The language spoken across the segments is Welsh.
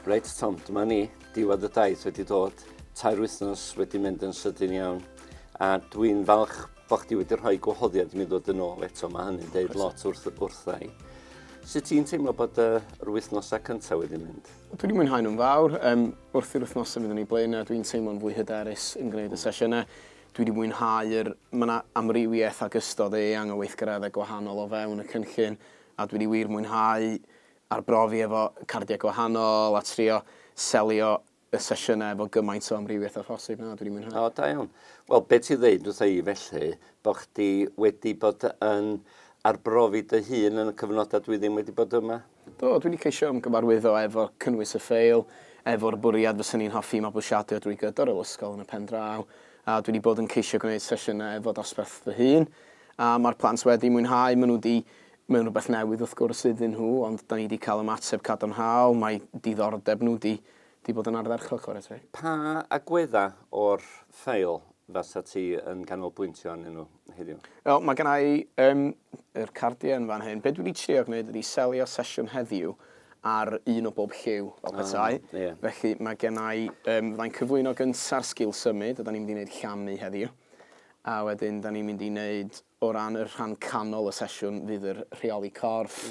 Reit Tom, dyma ni, diwedd y daith wedi dod, tair wythnos wedi mynd yn sydyn iawn, a dwi'n falch bod chdi wedi rhoi gwahoddiad i mi ddod yn ôl eto, mae hynny'n deud lot wrth, wrthau. Sut ti'n teimlo bod y, yr wythnosau cyntaf wedi mynd? Dwi wedi mwynhau nhw'n fawr. Um, wrth i'r wythnosau fydd yn ei blaen, dwi'n teimlo'n fwy hyderus yn gwneud y sesiynau. Dwi wedi mwynhau'r... Mae yna amrywiaeth ac ystod eang o weithgareddau gwahanol o fewn y cynllun, a dwi wedi wir mwynhau arbrofi efo cardiau gwahanol a trio selio y sesiynau efo gymaint o amrywiaeth â phosib. Na, dwi 'di mwynhau. O, da iawn. Wel, be' ti'n ddeud wrtha i felly, bo' chdi wedi bod yn arbrofi dy hun yn y cyfnoda dwi ddim wedi bod yma? Do, dwi 'di ceisio ymgyfarwyddo efo cynnwys y ffeil, efo'r bwriad fysa ni'n hoffi i mabwysiadu o drwy gydor yr ysgol yn y pen draw, a dwi 'di bod yn ceisio gwneud sesiynau efo dosbarth fy hun, a ma'r plant wedi mwynhau, ma' nhw 'di, mae'n rwbeth newydd wrth gwrs iddyn nhw, ond 'dan ni 'di cael ymateb cadarnhaol, mae diddordeb nhw 'di 'di bod yn ardderchog chwarae teg. Pa agweddau o'r ffeil fasa ti yn canolbwyntio arnyn nhw heddiw? Wel, mae gen i um, yr cardiau yn fan hyn. Be dwi wedi trio gwneud ydy selio sesiwn heddiw ar un o bob lliw o bethau. Oh, yeah. Felly mae gen i, um, fyddai'n cyflwyno gynta'r sgil symud, a da ni'n mynd i wneud llamu heddiw. A wedyn, da ni'n mynd i wneud O ran y rhan canol y sesiwn fydd yr rheoli corff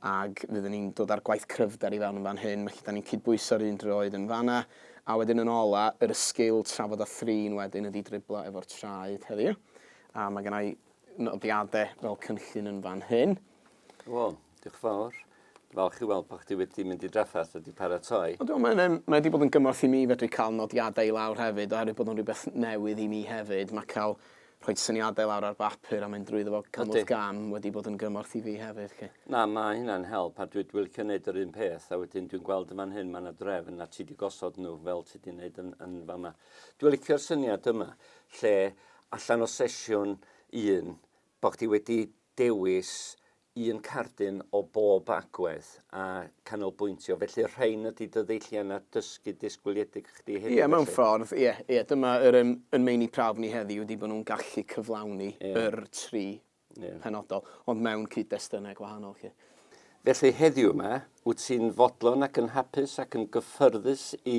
ac fydden ni'n dod a'r gwaith cryfder i fewn yn fan hyn, felly 'da ni'n cydbwyso'r un droed yn fan'na. A wedyn yn ola, yr y sgil trafod a thrin wedyn ydi driblo efo'r traed heddiw. A ma' gynna i nodiade fel cynllun yn fan hyn. Wel, diolch yn fawr. Falch i weld bod chdi wedi mynd i drafferth a wedi paratoi. Ond mae yna, mae wedi bod yn gymorth i mi fedru cael nodiadau i lawr hefyd, oherwydd bod o'n rhywbeth newydd i mi hefyd. Mae cael rhoi syniadau lawr ar bapur a mynd drwyddo fo cam wrth gam wedi bod yn gymorth i fi hefyd. Lle. Na, mae hynna'n help a dwi'n wilcio wneud yr un peth a wedyn dwi'n gweld yn fan hyn mae yna drefn a ti wedi gosod nhw fel ti wedi wneud yn, yn fama. Dwi'n licio'r syniad yma lle allan o sesiwn un Bod chdi wedi dewis un cardyn o bob agwedd a canolbwyntio, felly'r rhain ydy dy ddeilliannau dysgu disgwyliedig chdi hefyd felly? Ie, mewn ffordd, ie, ie. Dyma yr yym yn meini prawf ni heddiw ydy bod nhw'n gallu cyflawni yr tri penodol, ond mewn cyd-destunau gwahanol 'lly. Felly heddiw 'ma, wyt ti'n fodlon ac yn hapus ac yn gyffyrddus i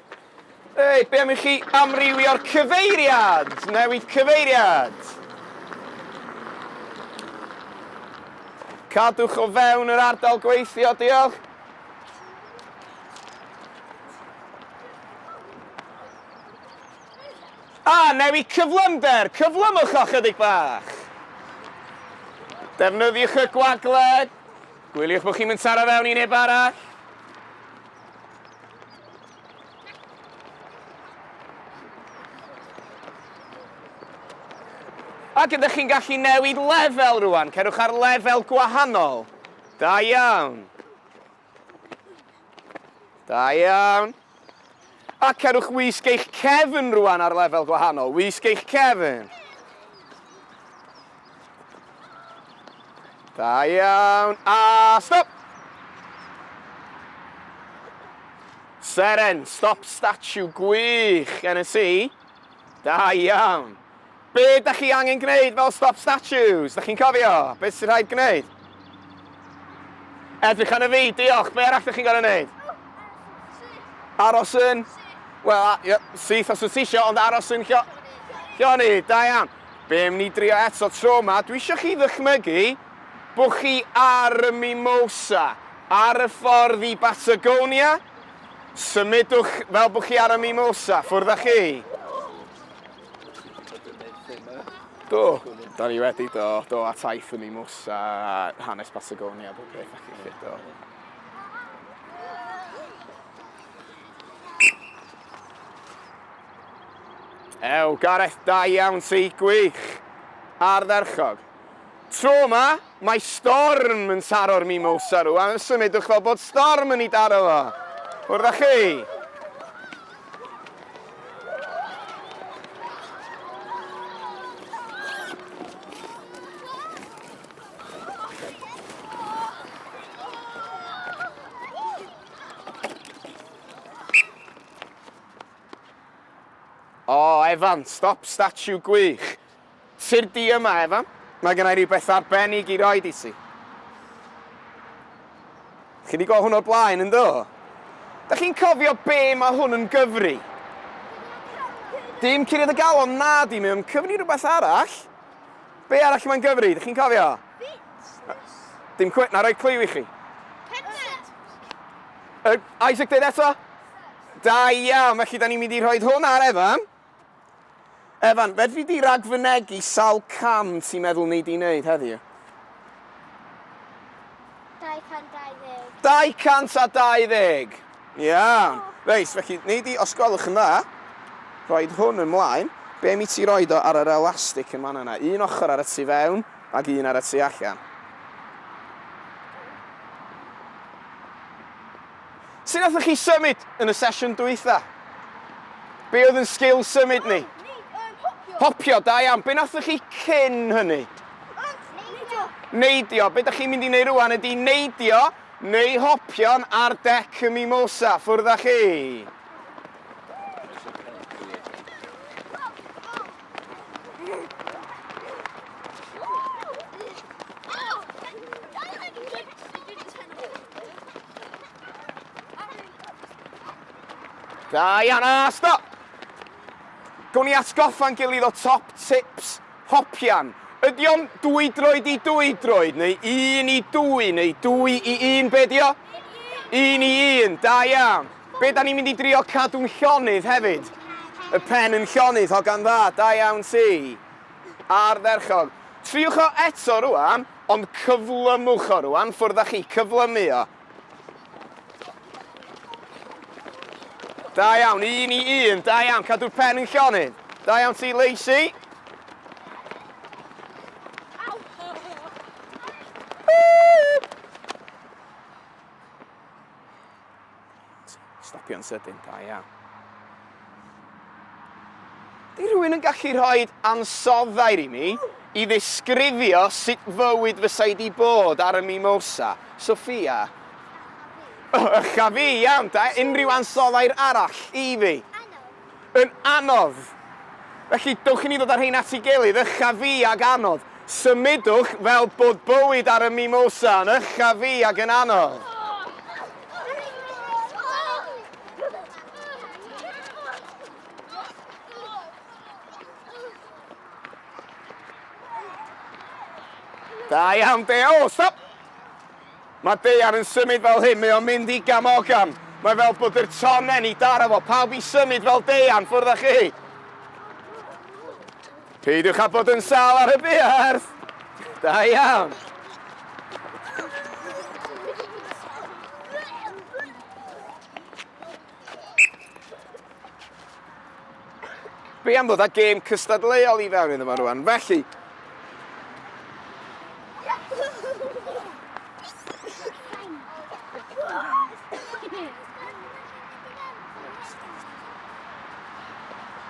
Reit, be am i chi amrywio'r cyfeiriad? Newid cyfeiriad. Cadwch o fewn yr ardal gweithio, diolch. A, newid cyflymder, cyflymwch o chydig bach. Defnyddiwch y gwagled. Gwyliwch bod chi'n mynd taro fewn i neb arall. Ac ydych chi'n gallu newid lefel rwan? Cerwch ar lefel gwahanol. Da iawn. Da iawn. A cerwch wisg eich cefn rwan ar lefel gwahanol. Wisg eich cefn. Da iawn, a stop! Seren, stop statue, gwych, gen y si. Da iawn. Be da chi angen gwneud fel stop statues? Da chi'n cofio? Be sy'n rhaid gwneud? Edrych yn y fi, diolch. Be arall da chi'n gorau gwneud? Aros yn? Wel, syth os wyt ti isio, ond aros yn Lloni, da iawn. Be am ni drio eto tro ma, dwi isio chi ddychmygu bo chi ar y Mimosa, ar y ffordd i Batagonia, symudwch fel bo chi ar y Mimosa, ffwrdd a chi. Do, da ni wedi do, do a taith y Mimosa, hanes Patagonia, bob peth a chi lli do. Ew, Gareth, da iawn ti, gwych! Ardderchog. Tro yma, mae storm yn taro'r mimosa rwan, yn symudwch fel bod storm yn ei daro fo. Wrth â chi! O, Evan, stop statue gwych. Sir di yma, Evan. Mae gen i rhywbeth arbennig i roed i ti. Chi wedi gweld hwn o'r blaen, yn do? Da chi'n cofio be mae hwn yn gyfri? Dim curiad y galon, na di, mae'n cyfri rhywbeth arall. Be arall mae'n gyfri, da chi'n cofio? Fitness. Dim cwet, na roi clyw i chi. Cenfed. Uh, Isaac, dweud eto? Da iawn, felly da ni'n mynd i rhoi hwn ar Evan. Evan, fedri di ragfynegu sawl cam ti'n meddwl ni di wneud heddiw? 220. 220! Iawn. Reis, felly, ni di, os gwelwch yn dda, rhoi hwn ymlaen. Be mi ti roi do ar yr elastig yn fanna yna? Un ochr ar y tu fewn ac un ar y tu allan. Sut nathon chi symud yn y sesiwn dwytha? Be oedd yn sgil symud ni? Popio, da iawn. Be nathon chi cyn hynny? Neidio. Neidio. Be da chi'n mynd i wneud rwan ydy neidio neu hopio'n ar dec y mimosa. Ffwrdd â chi. Da iawn, a stop! Gwni atgoffa'n gilydd o top tips hopian. Ydy o'n dwy droed i dwy droed, neu un i dwy, neu dwy i un, be di o? Un i un, da iawn. Be da ni'n mynd i drio cadw'n llonydd hefyd? Y pen yn llonydd, hogan dda, da iawn ti. Ardderchog. Triwch o eto rwan, ond cyflymwch o rwan, ffwrdd â chi, cyflymu o. Da iawn, un i un, da iawn, cadw'r pen yn llonydd. Da iawn ti, Lacey. Stopio'n sydyn, da iawn. Di rhywun yn gallu rhoi ansoddair i mi i ddisgrifio sut fywyd fysa i di bod ar y Mimosa? Sophia? Ych a fi, iawn da, unrhyw ansoddair arall i fi? Yn anodd! Felly, dewch i ni ddod â'r rhein at ei gilydd, ycha fi ag anodd. Symudwch fel bod bywyd ar y Mimosa yn ycha fi ag yn anodd. Da iawn, Deo! Stop! Mae daear yn symud fel hyn, mae o'n mynd i gam o gam. Mae fel bod yr tonnen i daro fo, pawb i symud fel daear, ffwrdd â chi! Peidiwch â bod yn sal ar y buarth! Da iawn! Be am ddod â gêm cystadleuol i fewn iddo fo rwan? Felly...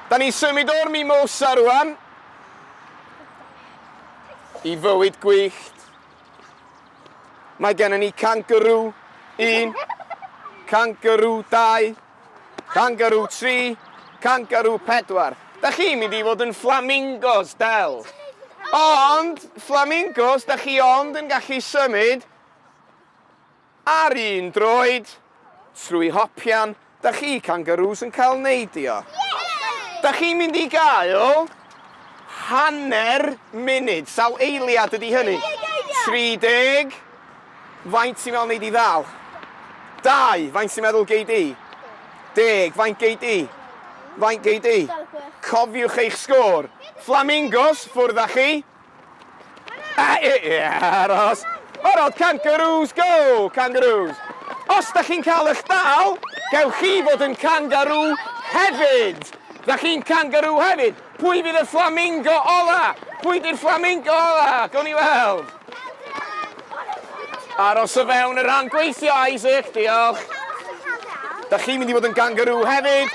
Da ni'n symud o'r mimosa rwan i fywyd gwyllt Mae gennym ni cangarŵ 1, cangarŵ 2, cangarŵ 3, cangarŵ 4. Da chi'n mynd i fod yn flamingos, Del. Ond, flamingos, da chi ond yn gallu symud Ar un droed, trwy hopian, da chi kangaroos yn cael neidio. Da chi'n mynd i gael hanner munud, sawl eiliad ydi hynny? 30? Faint ti'n meddwl nei di ddal? Dau? Faint ti'n meddwl gei di? Deg? Faint gei di? Faint gei di? Cofiwch eich sgôr. Flamingos, ffwrdd â chi. Aros! O'r ôl, kangaroos, go! Kangaroos! Os da chi'n cael eich dal, gewch chi fod yn kangaroo hefyd! Da chi'n kangaroo hefyd! Pwy fydd y flamingo ola? Pwy di'r flamingo ola? Gawn ni weld! Aros o fewn y rhan gweithio, Isaac, diolch! Da chi'n mynd i fod yn kangaroo hefyd!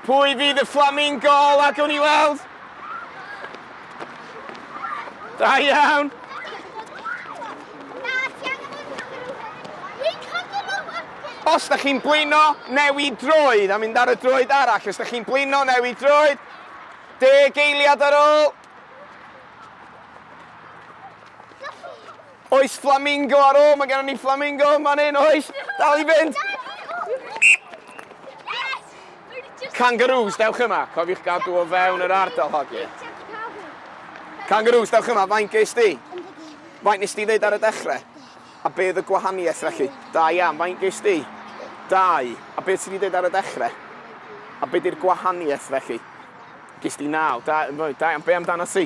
Pwy fydd y flamingo ola? Gawn ni weld! Da iawn! Os da chi'n blino, newid droed a mynd ar y droed arall. Os da chi'n blino, newid droed. Deg eiliad ar ôl. Oes flamingo ar ôl? Mae gennym ni flamingo yn fan hyn, oes? Dal i fynd! Kangaroos, dewch yma. Cofiwch gadw o fewn yr ardal hogiau. Kangaroos, dewch yma. Faint ges di? Faint nes di ddeud ar y dechrau? A be oedd y gwahaniaeth felly? Da iawn, faint ges di? Dau. A beth sydd wedi dweud ar y dechrau? A beth yw'r gwahaniaeth felly? Ges di naw. Da, da iawn, be amdano ti?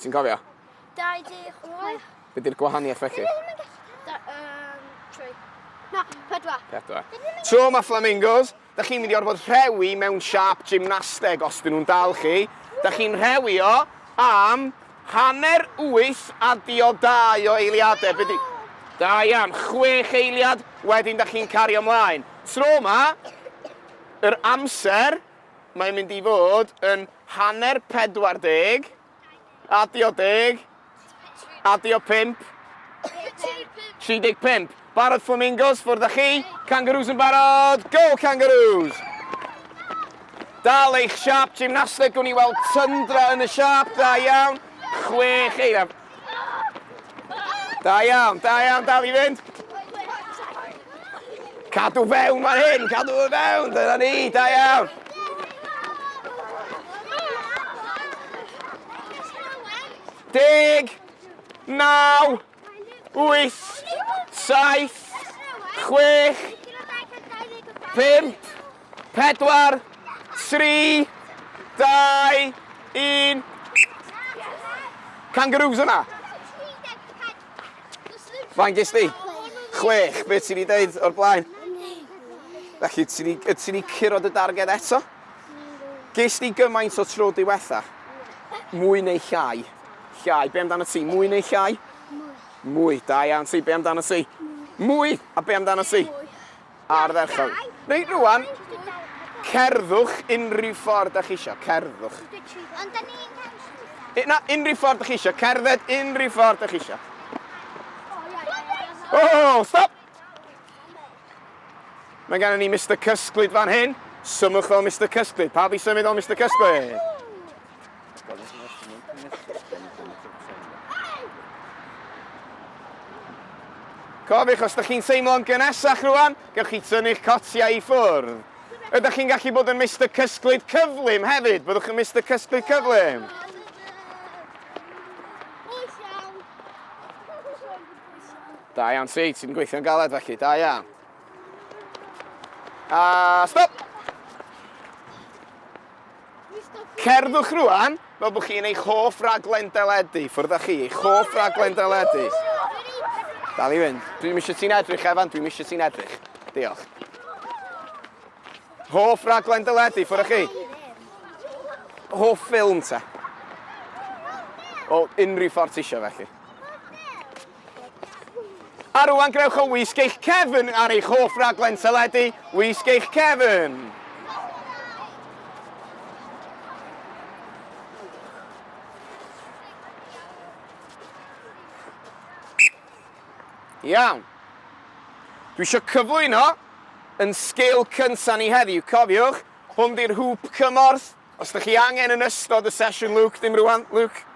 Ti'n cofio? 28. Be di'r gwahaniaeth felly? Da, um, tri. Na, pedwar. Pedwar. Tro mae flamingos, da chi'n mynd i orfod rhewi mewn siap gymnasteg os dyn nhw'n dal chi. Da chi'n rhewi o am hanner wyth a diodau o eiliadau. Be di... Da iawn, chwech eiliad, wedyn da chi'n cario ymlaen. Tro yma, yr amser Mae'n mynd i fod yn hanner 40, adio deg, adio pump, 35. Barod Flamingos, ffwrdd â chi. Kangaroos yn barod, go Kangaroos! Dal eich siap, gymnasteg, gwn i weld tyndra yn y siap, da iawn. Chwech eira. Da iawn, da iawn, dal i fynd. Cadw fewn fan hyn, cadw fe fewn, dyna ni, da iawn. Deg, naw, wyth, saith, chwech, pimp, 4, 3, 2, 1. Kangaroos yna? Fain gys di? Chwech, beth ti'n ei dweud o'r blaen? Felly, ti'n ei curod y darged eto? Gys di gymaint o tro diwetha? Mwy neu llai? Llai, be amdano ti? Mwy neu llai? Mwy. Da iawn ti, be amdano ti? Mwy! A be amdano ti? Ardderchog. Reit rwan, cerddwch unrhyw ffordd da chi eisiau, cerddwch. Ond da ni'n cael Na, unrhyw ffordd da chi eisiau, cerdded unrhyw ffordd da chi eisiau. O, oh, stop! Mae gen i ni Mr Cysglyd fan hyn. Symwch fel Mr Cysglyd. Pa fi symud fel Mr Cysglyd? Cofiwch, os ydych chi'n teimlo'n gynesach rwan, gewch chi tynnu'ch cotiau i ffwrdd. Ydych chi'n gallu bod yn Mister Cysglyd Cyflym hefyd? Byddwch yn Mister Cysglyd Cyflym. Da iawn, ti, ti'n gweithio'n galed felly, da iawn. A stop! Cerddwch rwan fel bod chi'n eich hoff raglen deledu. Ffwrdd â chi, eich hoff raglen deledu. Dal i fynd. Dwi ddim eisiau ti'n edrych, Evan. Dwi ddim eisiau ti'n edrych. Diolch. Hoff raglen deledu, ffwrdd â chi. Hoff ffilm te. O, unrhyw ffordd ti eisiau felly. A rwan grewch o wisg eich cefn ar eich hoff raglen teledu, wisg eich cefn! Iawn. Dwi eisiau cyflwyno yn sgil cynta ni heddiw, cofiwch, hwn di'r hŵp cymorth, Os dych chi angen yn ystod y sesiwn Luke, dim rwan, Luke,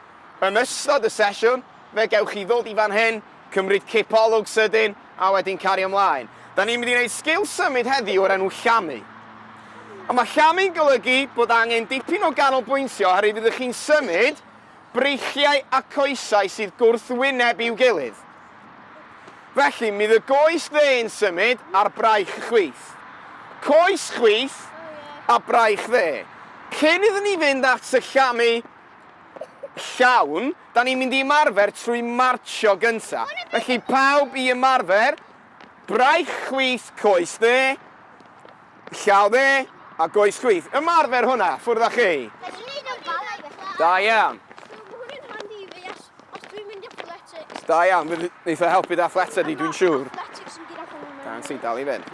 yn ystod y sesiwn, fe gewch chi ddod i fan hyn, cymryd cipolwg sydyn, a wedyn cario mlaen. Da ni'n mynd i wneud sgil symud heddiw o'r enw llamu. Ond mae llamu'n golygu bod angen dipyn o ganolbwyntio oherwydd ydych chi'n symud breichiau a coesau sydd gwrthwyneb i'w gilydd. Felly, mi the goes dde'n symud ar braich chwith. Coes chwith a braich dde. Cyn iddyn ni fynd at syllamu llawn, da ni'n mynd i ymarfer trwy marcio gynta. Felly, pawb i ymarfer braich chwith coes dde. Llawe a goes chwith. Ymarfer hwnna, ffwrdd â chi. Da iawn. Da iawn, fydd eitha e helpu da ffleta di, dwi'n siŵr. Da yn ti, dal i fynd.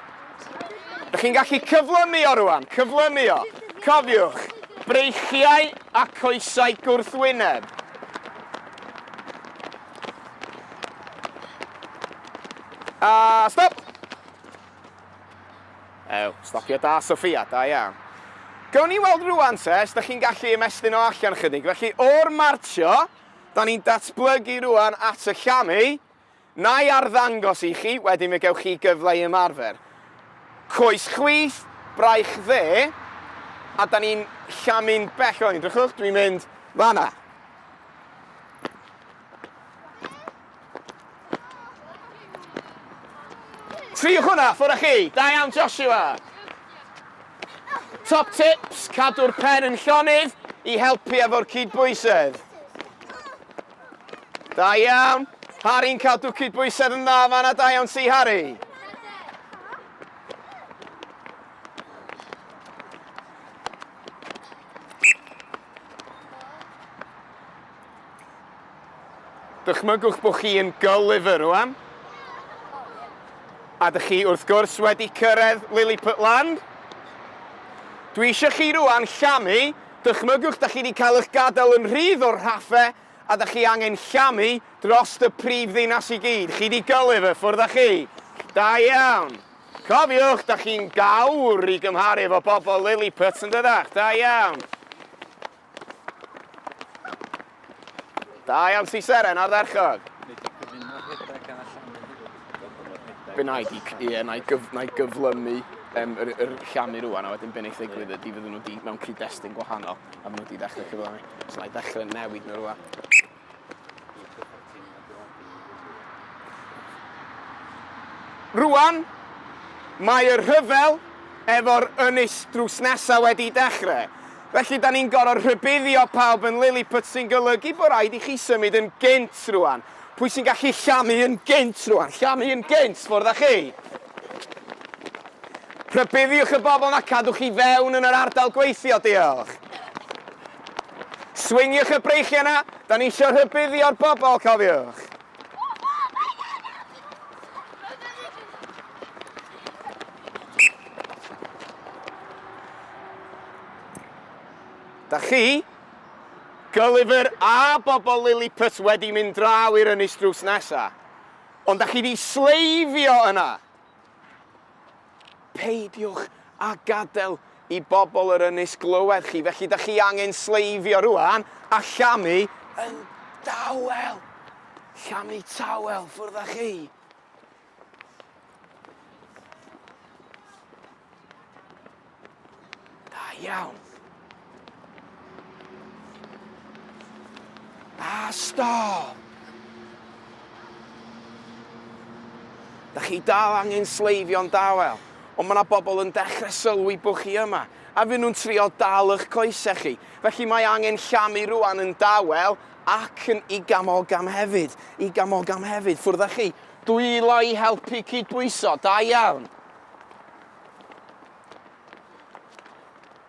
Ydych chi'n gallu cyflymu o rwan, cyflymu o. Cofiwch, breichiau a coesau gwrthwyneb. A stop! Ew, stopio da Sophia, da iawn. Gawn ni weld rwan te os da chi'n gallu ymestyn o allan chydig. Felly o'r marcio, da ni'n datblygu rwan at y llamu. Na i arddangos i chi, wedyn fe gewch chi gyfle i ymarfer. Coes chwith, braich dde, a da ni'n llamu'n bell o'n. Drychwch, dwi'n mynd fanna. Triwch hwnna, ffwr â chi! Da iawn, Joshua! Top tips, cadw'r pen yn llonydd i helpu efo'r cydbwysedd. Da iawn. Harry'n cadw cydbwysedd yn dda fanna, da iawn ti, Harry. Dychmygwch bod chi yn Gulliver rwan, a dych chi wrth gwrs wedi cyrraedd Lilliput Land. Dwi eisiau chi rwan llamu, dychmygwch da chi wedi cael eich gadael yn rhydd o'r rhaffe a da chi angen llamu dros y prif ddinas i gyd. Chi di Gulliver, ffwrdd â chi. Da iawn. Cofiwch, da chi'n gawr i gymharu efo bobl Lilliput yn dydach. Da iawn. Da iawn si Seren, ardderchog. Be na i, ie, na i, gyf, na i gyflymu um, yr, yr llamu rwan, a wedyn beth wneud ddigwydd ydy fydden nhw wedi mewn cyd-destun gwahanol, a fydden nhw wedi dechrau cyflymu. So na i ddechrau newid nhw rwan. Rwan, mae y rhyfel efo'r ynys drws nesa wedi dechre, felly 'da ni'n gor'o' rhybuddio pawb yn Lilliput sy'n golygu bo' raid i chi symud yn gynt rwan. Pwy sy'n gallu llamu yn gynt rwan? Llamu yn gynt, ffwrdd â chi! Rhybuddiwch y bobl 'na cadwch i fewn yn yr ardal gweithio, diolch. Swingiwch y breichiau yna, da ni isio rhybuddio'r bobl, cofiwch! Da chi, Gulliver a bobl Lilliput wedi mynd draw i'r ynys drws nesa. Ond da chi di sleifio yna! Peidiwch â gadael i bobl yr ynys glywed chi, felly da chi angen sleifio rwan a llamu yn dawel. Llamu tawel, ffwrdd â chi. Da iawn. Ah, stop! Da chi dal angen sleifio'n dawel, ond mae yna bobl yn dechrau sylwi bod chi yma, a fy nhw'n trio dal eich coesau chi. Felly mae angen llamu rwan yn dawel ac yn i gamogam hefyd, i gamogam hefyd, ffwrdd â chi. Dwylo i helpu cydbwyso, da iawn.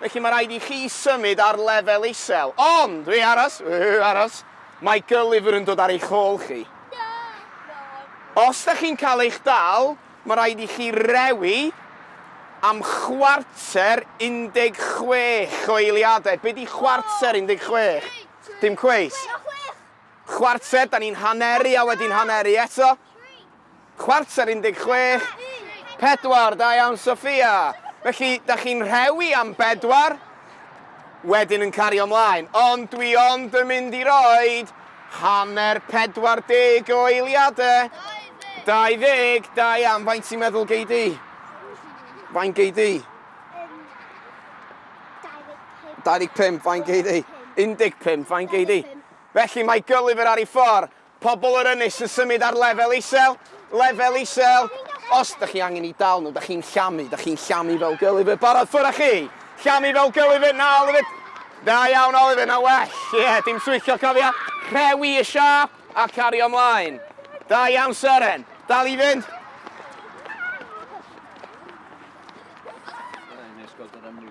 Felly mae rhaid i chi symud ar lefel isel. Ond! Hei, aros! Hei, aros! Mae Gulliver yn dod ar eich hôl chi. Os da chi'n cael eich dal, mae rhaid i chi rewi am chwarter 16 o eiliadau. Be di chwarter 16? Dim cweit. Chwarter, da ni'n haneru a wedyn haneru eto. Chwarter 16, pedwar, da iawn Sophia. Felly, da chi'n rhewi am bedwar, wedyn yn cario mlaen. Ond dwi ond yn mynd i roed hanner 40 o eiliadau. 20, da iawn. Faint ti'n meddwl gei di? Faint gei di? 25, faint gei di? 15, faint gei di? Felly mae Gulliver ar ei ffordd. Pobl yr ynys yn symud ar lefel isel, lefel isel. Os dych chi angen i dal nhw, dych chi'n llamu, dych chi'n llamu fel Gulliver. Barod, ffwrdd â chi! Llamu fel Gulliver, na Oliver! Da iawn Oliver, na well. Ie, yeah, dim switcho, cofia. Rhewi y siap a cario ymlaen. Da iawn Seren, dal i fynd. Rhaid i ni ysgol gyda'r mwy,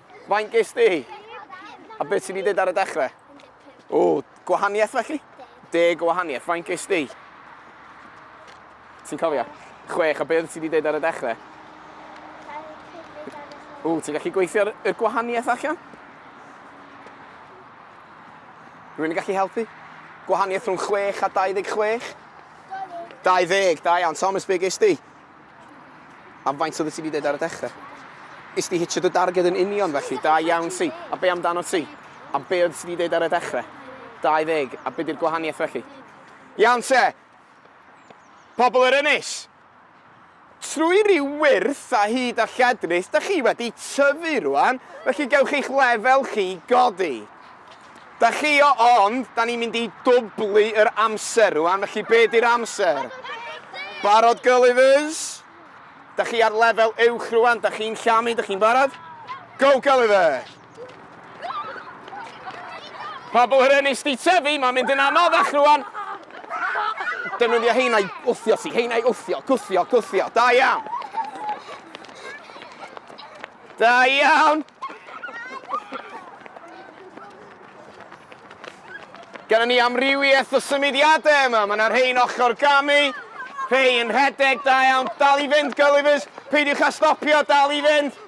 Faint ges di? A beth sy'n ei dweud ar y dechrau? O, gwahaniaeth felly? Deg o wahaniaeth. Faint ges di? Ti'n cofio? Chwech. A beth sy'n ei dweud ar y dechrau? O, ti'n gallu gweithio y gwahaniaeth allan? Rwy'n gallu helpu? Gwahaniaeth rhwng 6 a 26? 20, da iawn. Thomas, be ges di? Am faint oedd ti wedi dweud ar y dechrau? Is di hitio dy darged yn union felly, da iawn ti. A be amdano ti? Am be oedd ti wedi dweud ar y dechrau? 20, a be di'r gwahaniaeth felly? Iawn te! Pobl yr ynys! Trwy ryw wyrth a hyd a lledrith, da chi wedi tyfu rwan, felly gewch eich lefel chi godi. Dachio, ond 'da ni'n mynd i dwblu yr amser rwan, felly be' 'di'r amser? Barod Gullivers? Da chi ar lefel uwch rwan, da chi'n llamu, da chi'n barod? Go Gulliver! Pobl yr ynys di tyfu, mae'n mynd yn anoddach rwan. Defnyddio heina i wthio ti, heina i wthio, gwthio, gwthio. Da iawn. Da iawn. Gynnon ni amrywiaeth o symudiadau yma. Mae yna rhein ochr gamu, rhei yn rhedeg, da iawn. Dal i fynd, Gullivers. Peidiwch â stopio, dal i fynd.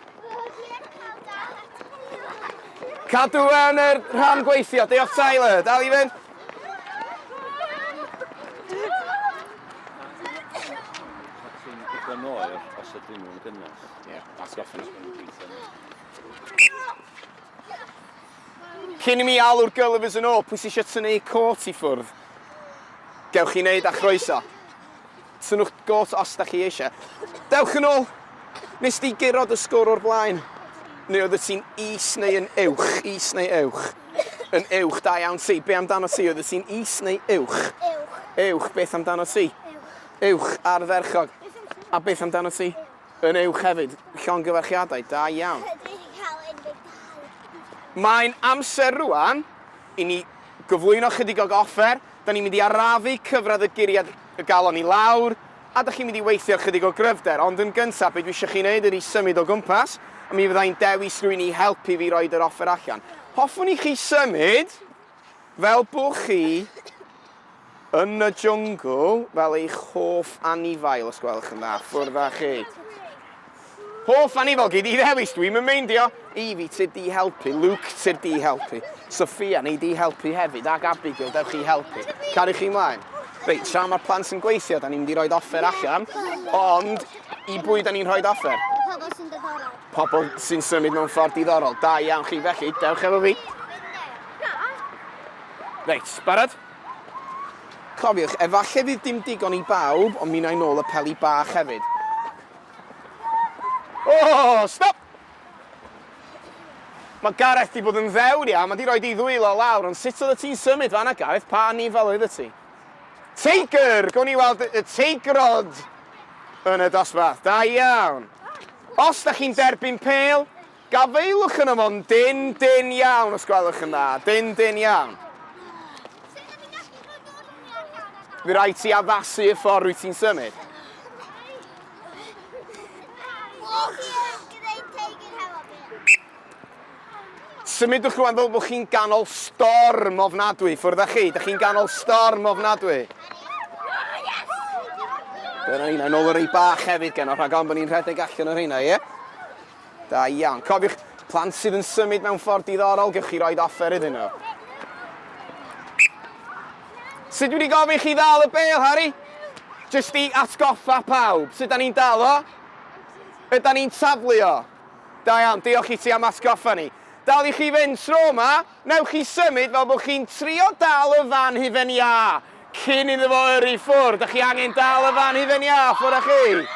Cadw yn yr rhan gweithio. Diolch, Tyler. Dal i fynd. Os ydyn nhw'n gynnes. Ie, that's got finished when the beat's in. Cyn i mi alw'r gylifys yn ôl, pwy sy'n eisiau tynnu ei cot i ffwrdd? Gewch chi wneud a chroeso. Tynnwch gôt os da chi eisiau. Dewch yn ôl! Nes di gyrraedd y sgwr o'r blaen? Neu oedd y ti'n is neu yn uwch? Is neu uwch? Yn uwch, da iawn ti. Be amdano ti? Oedd y ti'n is neu uwch? Uwch. Uwch, beth amdano ti? Uwch. Uwch ar y ferchog. A beth amdano ti? Yn uwch hefyd. Llongyfarchiadau. Da iawn. Dwi wedi cael unrhyw gael. Mae'n amser rwan i ni gyflwyno chydig o offer. Da ni'n mynd i arafu cyfradd y guriad y galon i lawr, a da chi'n mynd i weithio chydig o gryfder. Ond yn gyntaf, be dwi eisiau chi wneud ydy symud o gwmpas, a mi fydda i'n dewis rwy'n i helpu fi roed yr offer allan. Hoffwn i chi symud. Fel bo chi yn y jwngl fel eich hoff anifail os gwelwch yn dda. Ffwrdd â chi. Hoff anifail gei di ddewis, dwi'm yn meindio! Evie, tyd di helpu. Luke, tyd di helpu. Sophia, nei di helpu hefyd, ac Abigail, dewch i helpu. Cariwch chi mlaen. Reit, tra mae'r plant yn gweithio, da ni'n mynd i roed offer allan, ond i bwy da ni'n rhoed offer? Pobl sy'n ddiddorol. Pobl sy'n symud mewn ffordd diddorol. Da iawn chi, felly, dewch efo fi. Reit, barod? Cofiwch, efallai fydd dim digon i bawb, ond mi wna i nôl y peli bach hefyd. O, oh, stop! Mae Gareth di bod yn ddewr iawn, mae di roi di ddwylo lawr, ond sut oedd y ti'n symud fanna, Gareth? Pa nifel oedd y ti? Teigr! Gawn ni weld y teigrod yn y dosbarth. Da iawn. Os da chi'n derbyn pel, gafaelwch yn ymon dyn, dyn iawn os gwelwch yn dda. Dyn, dyn iawn. Fi rai ti addasu y ffordd rwy ti'n symud. Symudwch rwan fel bod chi'n ganol storm ofnadwy. Ffwrdd â chi, da chi'n ganol storm ofnadwy. Dyna ni, na nôl y rei bach hefyd gen o, rhag ond bod ni'n rhedeg allan o rheina, ie? Da iawn. Cofiwch, plant sydd yn symud mewn ffordd diddorol, gewch chi roed offer iddyn nhw. Sut wedi gofyn chi ddal y bel, Harry? Just i atgoffa pawb, sut da ni'n dal o? Yda ni'n taflu o? Da iawn, diolch i ti am atgoffa ni. Dal i chi fynd tro yma, newch chi symud fel bod chi'n trio dal y fan hufen iâ cyn iddo fo yrru ffwrdd. Da chi angen dal y fan hufen iâ ffwrdd â chi.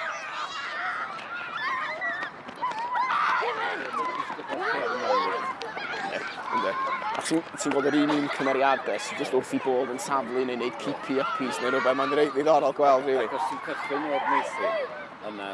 A ti'n ti gweld yr un un cymeriadau sy'n just wrth i bod yn saflu neu wneud creepy yppies neu rhywbeth. Mae'n reit ddiddorol gweld, rili. Ac os ti'n cychwyn o'r meithrin, yna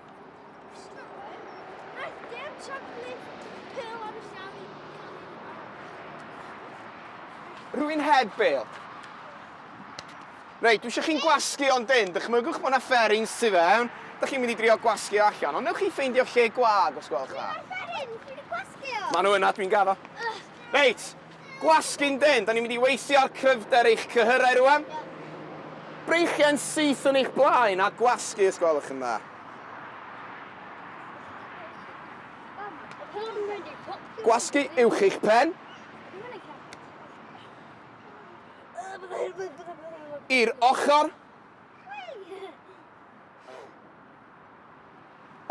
Rwy'n heb bêl. Reit, dwi eisiau chi'n gwasgu o'n dyn. Dychmygwch bod yna fferins tu fewn. Dych chi'n mynd i drio gwasgu o allan, ond newch chi ffeindio lle gwag os gwelwch dda. Maen nhw yna, dwi'n gaddo. Reit, Gwasgu'n dynn, 'da ni'n mynd i weithio ar cryfder eich cyhyrau rŵan. Breichiau'n syth yn eich blaen a gwasgu os gwelwch yn dda. Gwasgu uwch eich pen. I'r ochr.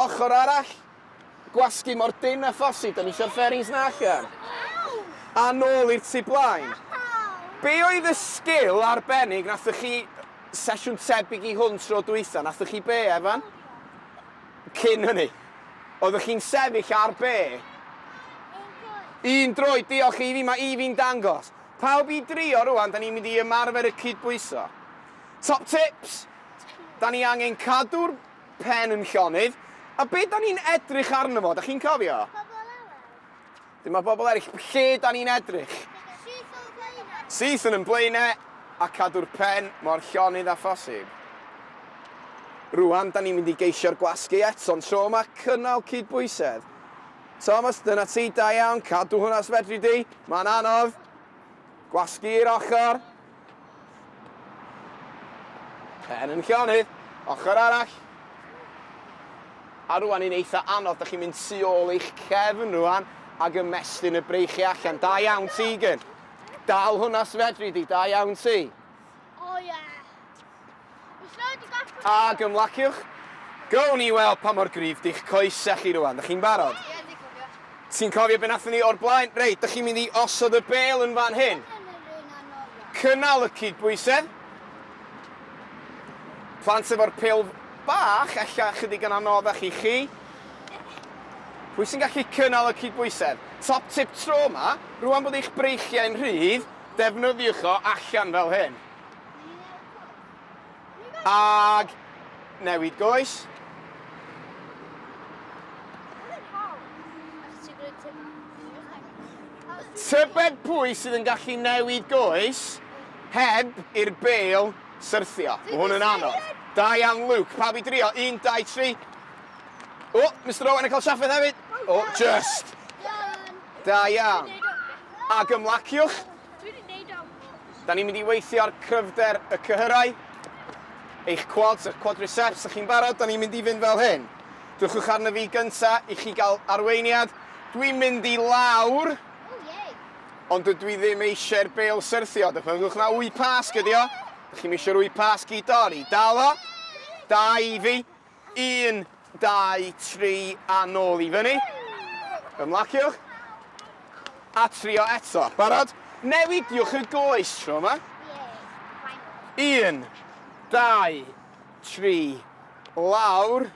Ochr arall, gwasgu mor dynn â phosib, do'n i isio'r fairings 'na allan. A nôl i'r tu blaen. Be' oedd y sgil arbennig nathoch chi sesiwn tebyg i hwn tro dwytha, nathoch chi be', Evan? Cyn hynny. Oeddech chi'n sefyll ar be'? Un droed. Un droed, diolch Evie, mae Evie'n dangos. Pawb i drio rŵan, 'dan ni'n mynd i ymarfer y cydbwyso. Top tips? Da ni angen cadw'r pen yn llonydd. A be da ni'n edrych arno fo? Da chi'n cofio? Pobl eraill. Dyma bobl eraill. Lle da ni'n edrych? Syth o'n blaenau. Syth yn yn blaenau a cadw'r pen mor llonydd â phosib. Rwan, da ni'n mynd i geisio'r gwasgu eto'n tro yma, cynnal cydbwysedd. Thomas, dyna ti, da iawn, cadw hwnna os fedri di. Mae'n anodd. Gwasgu i'r ochr. Pen yn llonydd, ochr arall. A rwan yn eitha anodd, dych chi'n mynd tu ôl eich cefn rwan ac ymestyn y breichiau allan. Da iawn Tegan. Dal hwnna sfedri di, da iawn ti. Ac ymlaciwch. Gown ni weld pa mor gryf di'ch coesau chi rwan. Dych chi'n barod? Ie, dwi'n cofio. Ti'n cofio be nathon ni o'r blaen? Reit, dych chi'n mynd i osod y bel yn fan hyn. Cynnal y cydbwysedd. Plant efo'r pil bach, ella chydig yn anoddach i chi. Pwy sy'n gallu cynnal y cydbwysedd? Top tip tro yma, rwan bod eich breichiau'n rhydd, defnyddiwch o allan fel hyn. Ag newid goes. Tybed pwy sydd yn gallu newid goes heb i'r bel syrthio. Mae hwn yn anodd. Da iawn, Luke. Pa fi drio? 1, 2, 3. O, Mr Owen yn cael trafferth hefyd. O, just. Da iawn. Ac ymlaciwch. Dwi wedi neud o! Da ni'n mynd i weithio ar cryfder y cyhyrau. Eich quads, eich quadriceps, ych chi'n barod? Da ni'n mynd i fynd fel hyn. Dwchwch arno fi gynta i chi gael arweiniad. Dwi'n mynd i lawr. Ond dydw i ddim eisiau'r bel syrthio. Dychmygwch na wy pasg ydi o. Dych chi'm eisiau'r wy pasg i dorri. Dal o. Da, Evie. Un, dau, tri, a nôl i fyny. Ymlaciwch. A trio eto. Barod? Newidiwch y goes tro yma. Un, dau, tri, lawr.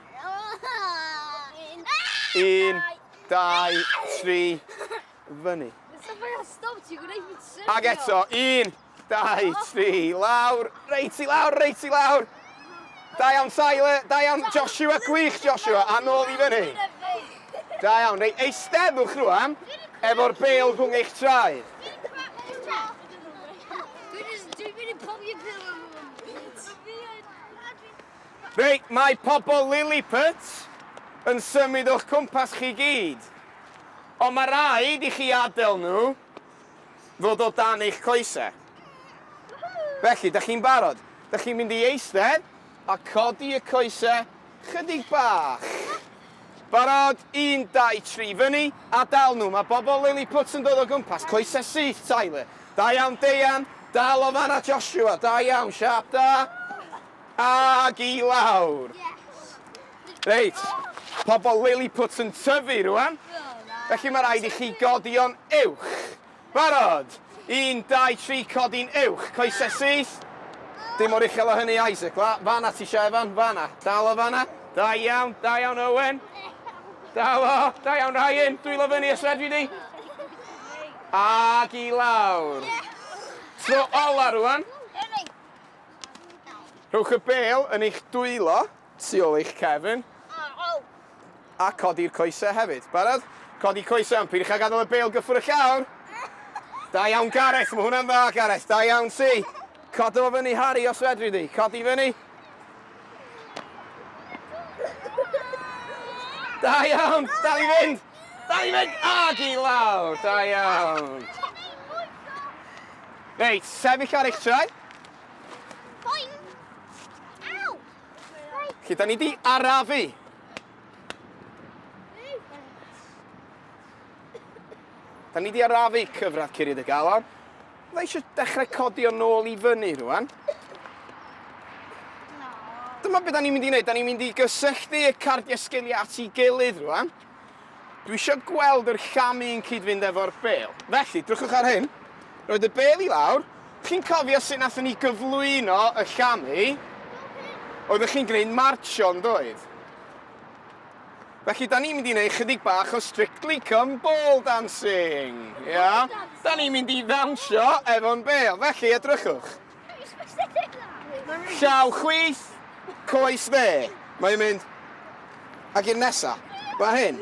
Un, dau, tri, fyny. Ag eto, un, Dau, tri, lawr! Reit i lawr, reit i lawr! Da iawn Tyler, da iawn Joshua, gwych Joshua, a nôl i fyny. Da iawn, reit, eisteddwch rwan, efo'r bel rhwng eich traed. Reit, mae pobl Lilliput yn symud o'ch cwmpas chi gyd. Ond mae rhaid i chi adael nhw ddod o dan eich coesau. Felly, da chi'n barod? Da chi'n mynd i eistedd a codi y coesau chydig bach. Barod, un, dau, tri, fyny, a dal nhw. Mae bobl Lilliput yn dod o gwmpas, coesau syth, Tyler. Da iawn, Deian. Dal o fanna, Joshua. Da iawn, siap da. Ag i lawr. Reit, pobl Lilliputs yn tyfu rwan, felly mae rhaid i chi godi o'n uwch. Barod? Un, dau, tri, codi'n uwch, coesau syth. Dim mor uchel o hynny, Isaac. Fa- Fan'na ti isio Evan, fan'na. Dal o fan'na. Da iawn, da iawn Owen. Dal o, da iawn Ryan, dwylo fyny os fedri di. Ac i lawr. Tro ola rwan. Rhowch y bêl yn eich dwylo. Tu ôl i'ch cefn. A codi'r coesau hefyd. Barod? Codi coesau ond peidiwch â gadael y bêl gyffwr y llawr. Da iawn Gareth, mae hwnna'n dda Gareth, da iawn ti. Codo fo fyny Harry os fedri di, codi fyny. Da iawn, dal i fynd, dal i fynd, ag i lawr, da iawn. Reit, sefyll ar eich traed. Felly, da ni di arafu. Da ni di arafu cyfradd Curiad y Galon. Da eisiau dechrau codi o'n nôl i fyny rwan. Dyma beth da ni'n mynd i wneud. Da ni'n mynd i gysylltu y cardiau sgiliau at ei gilydd rwan. Dwi isio gweld yr llamu yn cyd-fynd efo'r bêl. Felly, drychwch ar hyn. Roedd y bêl i lawr. Chi'n cofio sut nathon ni gyflwyno y llamu? Oeddech chi'n gwneud marcio, yn doedd? Felly, da ni'n mynd i wneud chydig bach o Strictly Come Ball Dancing. Ia? Da ni'n mynd i ddawnsio efo'n bêl. Felly, edrychwch. Llaw chwith, coes dde. Mae hi'n mynd. Ac i'r nesa. Mae hyn.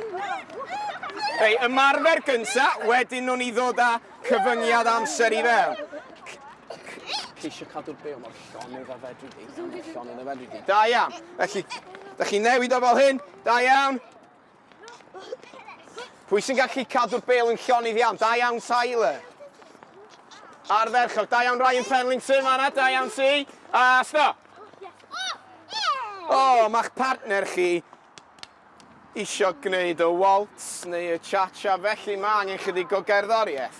Ei ymarfer gynta, wedyn nhw'n i ddod â cyfyngiad amser i fel. Ti eisiau cadw'r byw mor llonydd a fedri di. Llonydd a fedri di. Da iawn. Felly, da chi newid o fel hyn. Da iawn. Pwy sy'n gallu cadw'r bel yn llon i ddiawn? Da iawn Tyler. Ar ferchog, da iawn Ryan Penlington fanna, da iawn ti. A sto. O, oh, mae'ch partner chi isio gwneud y waltz neu y cha-cha, felly mae angen chydig o gerddoriaeth.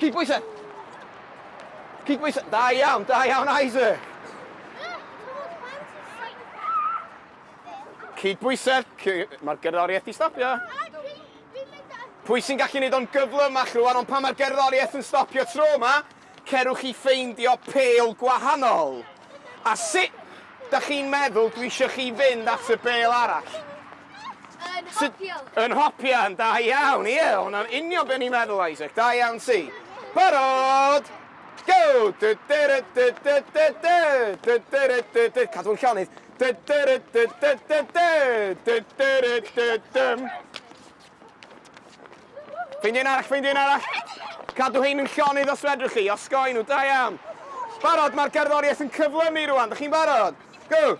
Cydbwysa! Cydbwysa! Da iawn, da iawn, Isaac! Cydbwysa! Mae'r gerddoriaeth i stopio. Pwy sy'n gallu gwneud o'n gyflymach rwan, ond pan mae'r gerddoriaeth yn stopio tro yma, Cerwch i ffeindio pêl gwahanol. A sut dach chi'n meddwl dwi isio chi fynd at y bêl arall? Yn hopian. Yn hopian, da iawn, ie, hwnna'n union be ni'n meddwl Isaac, da iawn ti. Barod! Go! Dy dy ry dy dy dy dy! Dy dy ry dy dy... Cadw yn llonydd. Dy dy ry dy dy dy dy! Dy dy ry dy dym! Ffeindio un arall, ffeindio un arall. Cadw hein yn llonydd os fedrwch chi, osgoi nhw, da iawn. Barod, mae'r gerddoriaeth yn cyflymu rwan, da chi'n barod? Go!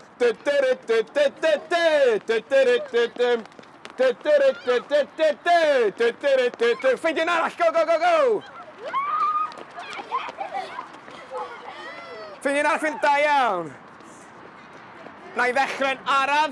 Ffeindio un arall, go, go, go, go! Ffeindio un arall, da iawn. Na i ddechrau'n araf.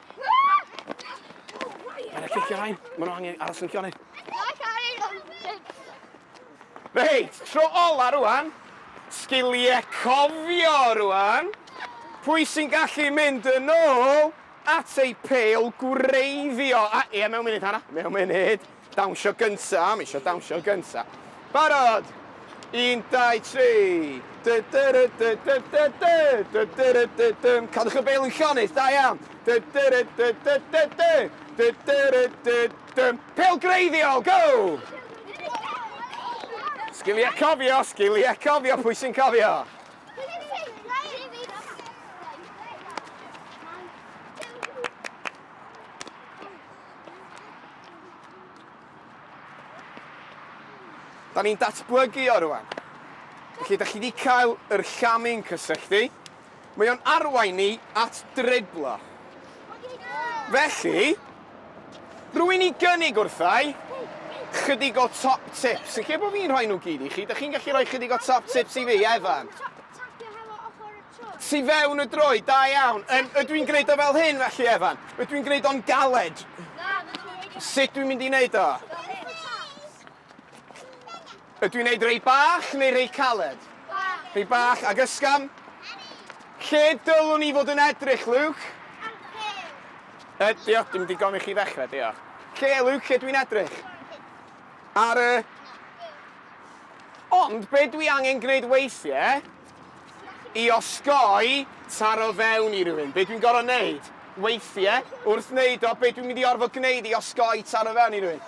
Mae'n eich cicio rhain. Mae nhw angen aros yn cioni. Reit, tro ola rwan. Sgiliau cofio rwan. Pwy sy'n gallu mynd yn ôl at ei peil gwreiddio? A, ia, mewn munud, Hana. Mewn munud. Dawnsio gynta, ma' isio dawnsio gynta. Barod! Un, dau, tri! Dy dy ry dy dy dy dy! Dy dy ry dy dym! Cadwch y bel yn llonydd, da iawn! Dy dy ry dy dy dy dy! Dy dy ry dy dym! Pêl greiddiol, go! Sgiliau cofio, sgiliau cofio, pwy sy'n cofio? Da ni'n datblygu o rwan. Felly, da chi wedi cael yr llamu'n cysylltu. Mae o'n arwain ni at driblo. Felly, rwy'n i gynnig wrthau chydig o top tips. Felly, bod fi'n rhoi nhw gyd i chi, da chi'n gallu rhoi chydig o top tips i fi, Evan? Tu fewn y droed, da iawn. Yn, ydw i'n gwneud o fel hyn felly, Evan? Ydw i'n gwneud o'n galed? Na, Sut dwi'n mynd i wneud o? Ydw i'n gwneud rei bach neu rei caled? Bach. Rei bach, ac ysgam? Lle dylwn i fod yn edrych, Luke? Ar y diolch, dim digon i chi ddechrau, diolch. Lle, Luke, lle dwi'n edrych? Ar y... Ond, be dwi angen gwneud weithiau, I osgoi taro fewn i rywun. Be dwi'n gorfod neud? Weithie, wrth neud o, be dwi'n mynd i orfod gneud i osgoi taro fewn i rywun?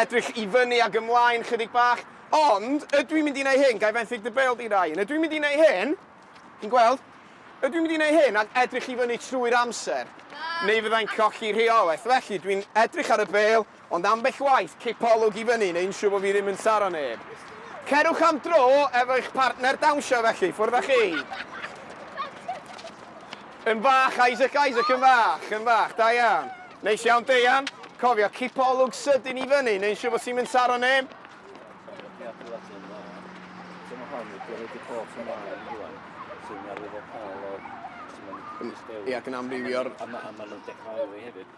Edrych i fyny ag ymlaen chydig bach. Ond, ydw i'n mynd i neud hyn? Gai fenthyg dy bêl di, Ryan? Ydw i'n mynd i neud hyn? Chi'n gweld? Ydw i'n mynd i neud hyn ac edrych i fyny trwy'r amser? Na! Neu fyddai'n colli rheolaeth. Felly, dwi'n edrych ar y bêl, Ond ambell waith cipo olwg i fyny neu'n siŵr bod fi ddim yn saro neb. Cerwch am dro efo eich partner dawnsio felly, ffwrdd â chi. Yn fach Isaac, Isaac yn fach, yn fach, da iawn. Neis iawn Deian, cofio cipo olwg sydyn i fyny neu'n siŵr bod ti'm yn saro neb. Ia, gan amrywio'r... A maen nhw'n dechrau alw fi hefyd.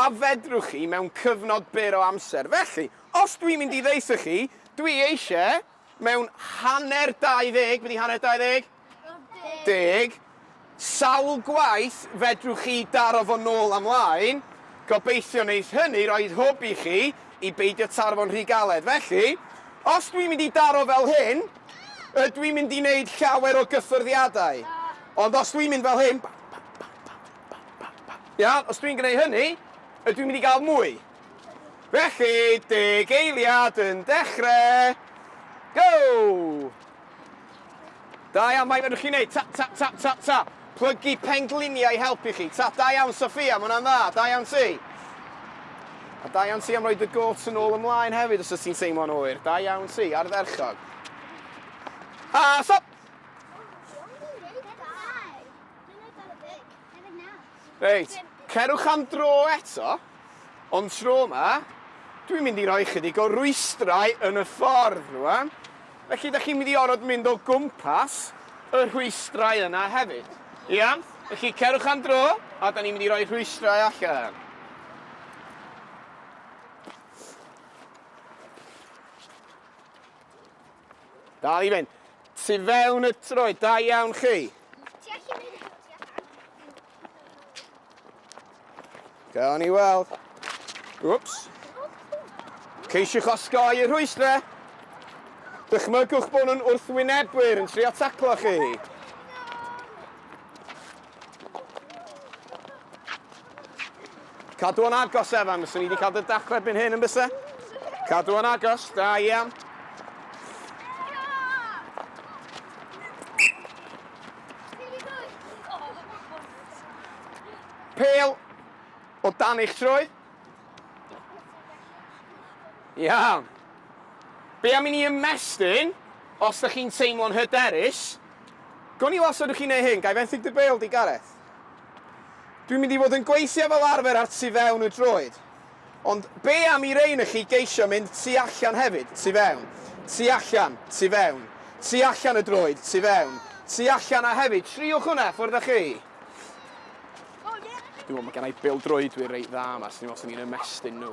A fedrwch chi mewn cyfnod byr o amser. Felly, os dwi'n mynd i ddeutho chi, dwi eisie mewn hanner 20, be di hanner 20? Deg. Sawl gwaith fedrwch chi daro fo nôl a mlaen? Gobeithio wneith hynny roi'r hwb i chi i beidio taro fo'n rhy galed. Felly, os dwi'n mynd i daro fel hyn, ydw i'n mynd i wneud llawer o gyffyrddiadau. Ond os dwi'n mynd fel hyn, bam, bam, bam, bam. Iawn, os dwi'n gwneud hynny, ydw i'n mynd i gael mwy? Felly, deg eiliad yn dechrau. Go! Da iawn, mai fedrwch chi wneud tap, tap, tap, tap, tap. Plygu pengliniau i helpu chi. Tap, da iawn, Sophia, mae hwnna'n dda. Da iawn ti. A da iawn ti am roi dy gôt yn ôl ymlaen hefyd os ydych ti'n teimlo'n oer. Da iawn ti, ardderchog. A stop! Reit, cerwch am dro eto, ond tro yma, dwi'n mynd i roi ychydig o rwystrau yn y ffordd rwan, felly da chi'n mynd i orfod mynd o gwmpas y rhwystrau yna hefyd. Iawn? Felly cerwch am dro, a da ni'n mynd i roi rhwystrau allan. Dal i fynd. Tu fewn y troed, da iawn chi. Gawn ni weld. Wps. Ceisiwch osgoi y rhwystrau. Dychmygwch bod nhw'n wrthwynebwyr yn trio taclo chi. Cadw o'n agos, Evan. Bysa ni wedi cael dy daclo erbyn hyn yn bysa? Cadw o'n agos. Da iawn. Pêl o dan eich trwy. Iawn. Be am i ni ymestyn, os da chi'n teimlo'n hyderus, Gawn ni weld sut ydych chi'n ei hyn, ga i fenthyg dy bêl di Gareth? Dwi'n mynd i fod yn gweithio fel arfer ar tu fewn y droed. Ond be am i rei na chi geisio mynd tu allan hefyd, tu fewn, tu allan, tu fewn, tu allan y droed, tu fewn, tu allan a hefyd, triwch hwnna, ffwrdd â chi! Dwi'n meddwl mae gen i bêl-droedwyr reit dda yma, so dwi'n meddwl swn i'n ymestyn nhw.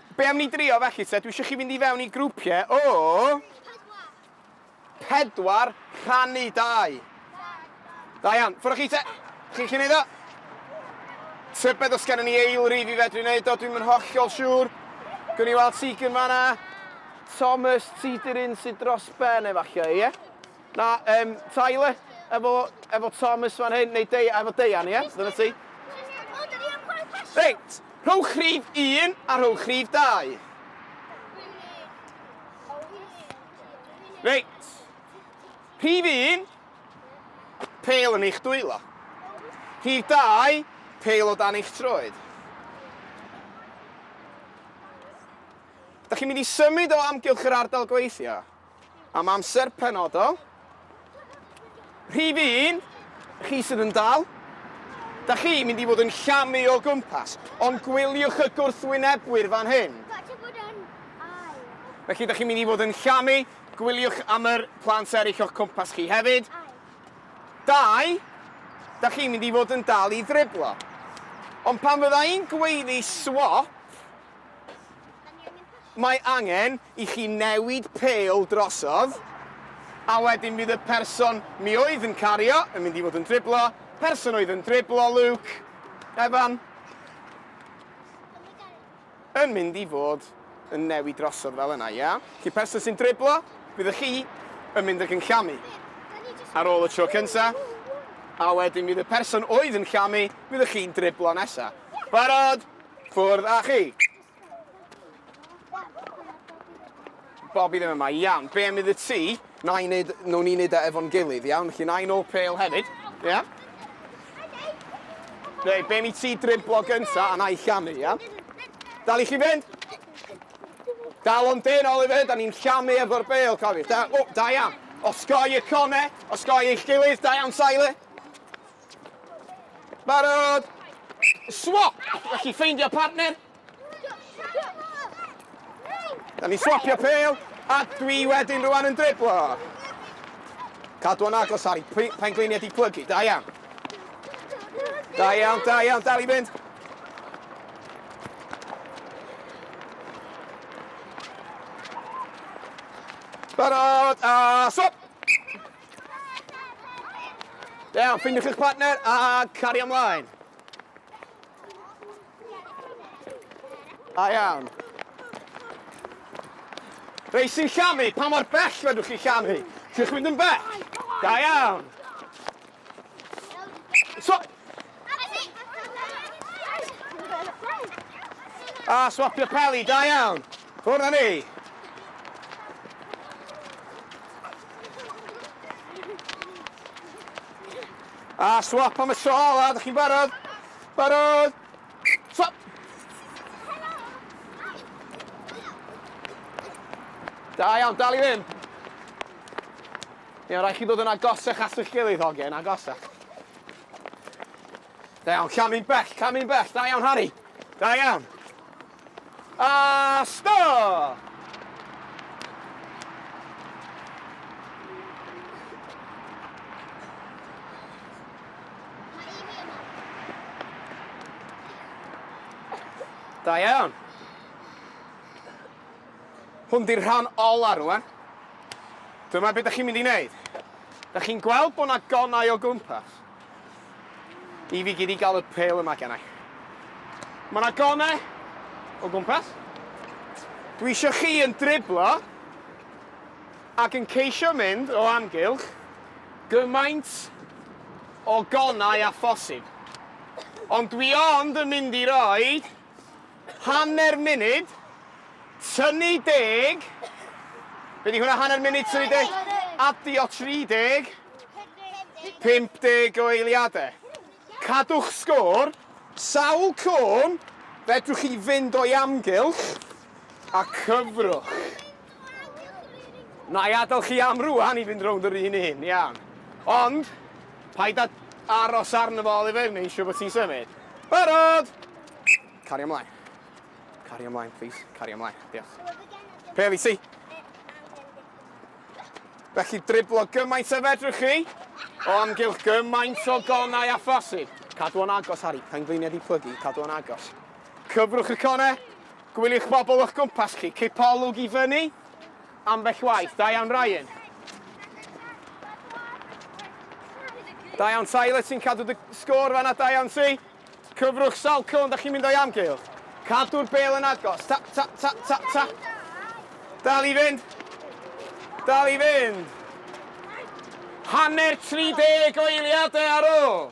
Be am ni drio felly te? Dwi isio chi fynd i fewn i grwpiau o... Pedwar. Pedwar rhannu dau. Da iawn. Ffwrdd chi te? Chi'n chi'n neud o? Tybed os gennym ni eilrif i fedru wneud o, dwi'n yn hollol siŵr. Gwni ni weld Tegan fanna. Thomas, ti di'r un sydd dros ben efallai, ie? Na, um, Tyler, efo, efo Thomas fan hyn, neu Dei, efo Deian, ie? Yeah? Dyna ti. Reit, rhowch rhif un a rhowch rhif dau. Reit. Rhif 1, pel yn eich dwylo. Rhif 2, pel o dan eich troed. Da chi'n mynd i symud o amgylch yr ardal gweithio? am amser penodol. Rhif un, chi sydd yn dal, da chi mynd i fod yn llamu o gwmpas, ond gwyliwch y gwrthwynebwyr fan hyn. Felly, da chi'n mynd i fod yn llamu, gwyliwch am yr plant eraill o'ch cwmpas chi hefyd. Dau, da chi'n mynd i fod yn dal i ddriblo. Ond pan fydda i'n gweiddi swop, Mae angen i chi newid pêl drosodd, a wedyn bydd y person mi oedd yn cario yn mynd i fod yn driblo, person oedd yn driblo Luke, Evan, yn mynd i fod yn newid drosodd fel yna, ia? Felly person sy'n driblo, bydd y chi yn mynd ac yn llamu ar ôl y tro cynta, a wedyn bydd y person oedd yn llamu, bydd y chi'n driblo nesa. Barod? Ffwrdd â chi! Bobi ddim yma. Iawn, be' am iddo ti, na i neud, newn ni neud e efo'n gilydd, iawn? Felly na i nôl pêl hefyd, ia? Rei, be' am i ti driblo gynta a na i llamu, ia? Dal i chi fynd! Dal o'n dyn, Oliver, da ni'n llamu efo'r bêl, cofiwch. Da, o, da iawn. Osgoi y cone, osgoi eich gilydd, da iawn, Tyler. Barod! Swap! Felly ffeindio partner. Da ni swapio pel, a dwi wedyn rwan yn driblo. Cadw yn agos, Harry. Pengliniau di plygu. Da iawn. Da iawn, da iawn. Dal i fynd. Barod! A swap! Dew, ffindiwch eich partner a cari ymlaen. Da iawn. Rei sy'n llamu, pa mor bell fedrwch chi llamu? Ti'n chwynd yn bell? Da iawn. So... A swapio peli, da iawn. Ffwrdd â ni! A swap am y tro ola, ydych chi'n barod? Barod! Swap! Da iawn, dal i ddim. Iawn, rhaid chi ddod yn agosach at eich gilydd hogen, agosach. Da iawn, camu'n bell, camu'n bell, da iawn Harry. Da iawn. A stop! Da iawn. Hwn di'r rhan ola rwan. Dyma be da chi'n mynd i wneud. Da chi'n gweld bod na gonau o gwmpas. I fi gyd i gael y pêl yma genna i. Mae yna gone o gwmpas. Dwi eisiau chi yn driblo ac yn ceisio mynd o amgylch gymaint o gonau a phosib. Ond dwi ond yn mynd i roi Hanner munud, tynnu deg. Be di hwnna, hanner munud, tynnu deg? Adio 30. 50 o eiliadau. Cadwch sgôr. Sawl cwm fedrwch chi fynd o'i amgylch a cyfrwch? Na i adael chi am rwan i fynd rownd yr un un, iawn. Ond, paid â aros arno fo Oliver, neu eisiau bod ti'n symud. Barod! Cari ymlaen. Cari ymlaen, please. Cari ymlaen. Diolch. Peli, si. Felly driblo gymaint a fedrwch chi, o amgylch gymaint o gonau a phosib. Cadw o'n agos, Harry. Pengliniau di plygu. Cadw o'n agos. Cyfrwch y conau. Gwyliwch bobl o'ch gwmpas chi. Cipo olwg i fyny ambell waith. Da iawn Ryan. Da iawn Tyler, ti'n cadw dy sgôr fanna, da iawn ti. Cyfrwch sawl cylon da chi'n mynd o'i amgylch. Cadw'r bel yn agos. Tap, tap, tap, tap, tap. Dal i fynd. Dal i fynd. Hanner 30 o eiliadau ar ôl.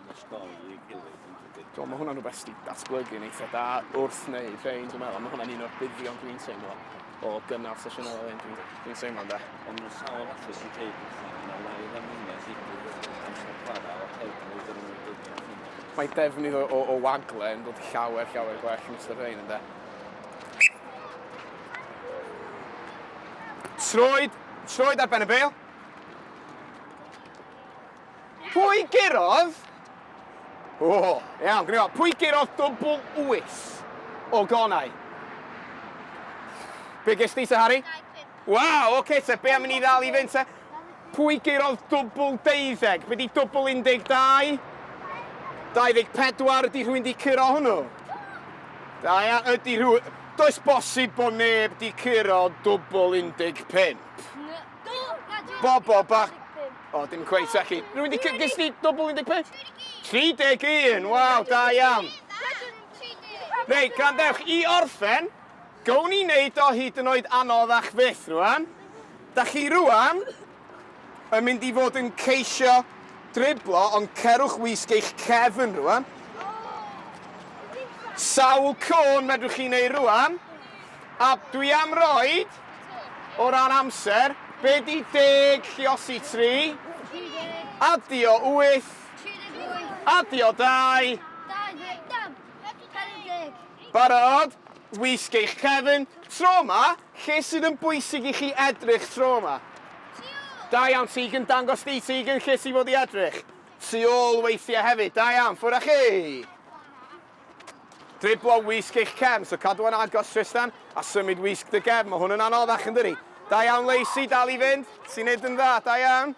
Do, mae hwnna'n rhywbeth sydd wedi datblygu yn eitha da wrth wneud rhain, dwi'n meddwl. Mae hwnna'n un o'r buddion dwi'n teimlo o gynnal sesiynau fel hyn, dwi'n dwi teimlo da. Ond mae'n sawl falle sy'n dweud pethau yn y lai fan hyn, a digwydd amser chwarae o'r heddlu dyn nhw'n ei dweud yn hyn. Mae defnydd o, o, o wagle yn dod llawer, llawer gwell yn ystod rhain, ynddo. Troed, troed ar ben y bel. Pwy gurodd? O, iawn, gwneud o. Pwy gurodd dwbl wyth o gonau? Be ges ti, Sir Harry? Waw, oce, okay, te, be am i ni ddal i fynd, te? Pwy gurodd dwbl deuddeg? Be di dwbl 12? 24, ydy rhywun di curo hwnnw? Da ia, ydy rhywun... Does bosib bod neb di curo dwbl 15. Bob o bach. O, oh, dim cweith, Saki. Rwy'n di cygys di dobl 15? 31, waw, da iawn. Rei, grandewch, i orffen, gown ni wneud o hyd yn oed anodd a'ch fyth rwan. Da chi rwan yn mynd i fod yn ceisio driblo, ond cerwch wisg eich cefn rwan. Sawl côn medrwch chi wneud rwan? A dwi am roed O ran amser, be di deg lliosi tri? Adio wyth. Adio dau. Barod? Wisg eich cefn. Tro ma, lle sydd yn bwysig i chi edrych tro ma? Da iawn, Tegan. Dangos di, Tegan, lle ti fod i edrych. Tu ôl weithiau hefyd. Da iawn. Ffwr â chi. Driblo wisg eich cefn, so cadw yn agos Trystan, a symud wisg dy gefn, mae hwn yn anoddach yn dydi? Da iawn Lacey, dal i fynd, ti'n neud yn dda, da iawn.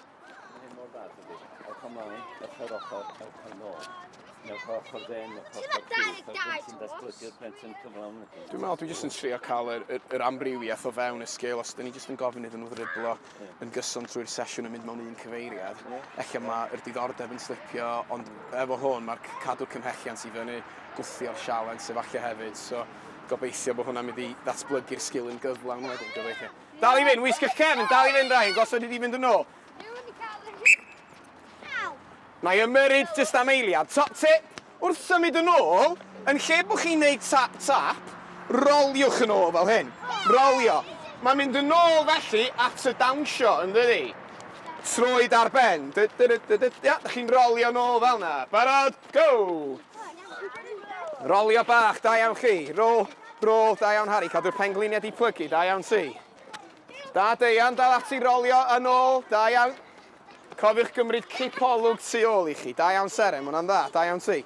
Dwi'n meddwl dwi jyst yn trio cael yr, yr, yr amrywiaeth o fewn y sgil os dyn ni jyst yn gofyn iddyn nhw ddriblo. yn gyson trwy'r sesiwn yn mynd mewn un cyfeiriad. Ella mae'r diddordeb yn slipio, ond efo hwn mae'r cadw cymhelliant i fyny, gwthio'r sialens efallai hefyd. So, gobeithio bod hwnna'n mynd i ddatblygu'r sgil yn gyflawn wedyn, gobeithio. Dal i fynd, wisg y cefn, dal i fynd Ryan, gosod i di fynd yn ôl. Mae ymyrryd jyst am eiliad, top tip! Wrth symud yn ôl, yn lle bod chi'n neud tap tap, roliwch yn ôl fel hyn. Rolio. Mae'n mynd yn ôl felly at y dawnsio, yn dydi? Troed ar ben. Dy dy dy dy dy. Ia, dych chi'n rolio yn ôl fel 'na. Barod, go! Rolio bach, da iawn chi. Rôl, rôl, da iawn Harri, cadw'r pengliniau di plygu, da iawn ti. Da Deian, dal ati rolio yn ôl, da iawn. Cofiwch gymryd cipolwg tu ôl i chi. Da iawn Seren, mae hwnna'n dda. Da iawn ti.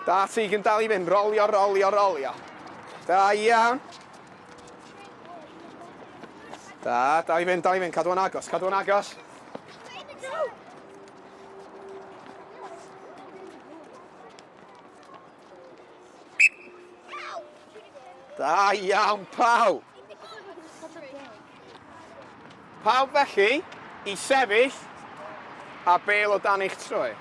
Da ti, gyn dal i fynd. Rolio, rolio, rolio. Da iawn. Da, dal i fynd, dal i fynd. Cadw yn agos, cadw yn agos. Da iawn, Pau! Pau felly i sefyll a bel o dan eich troi.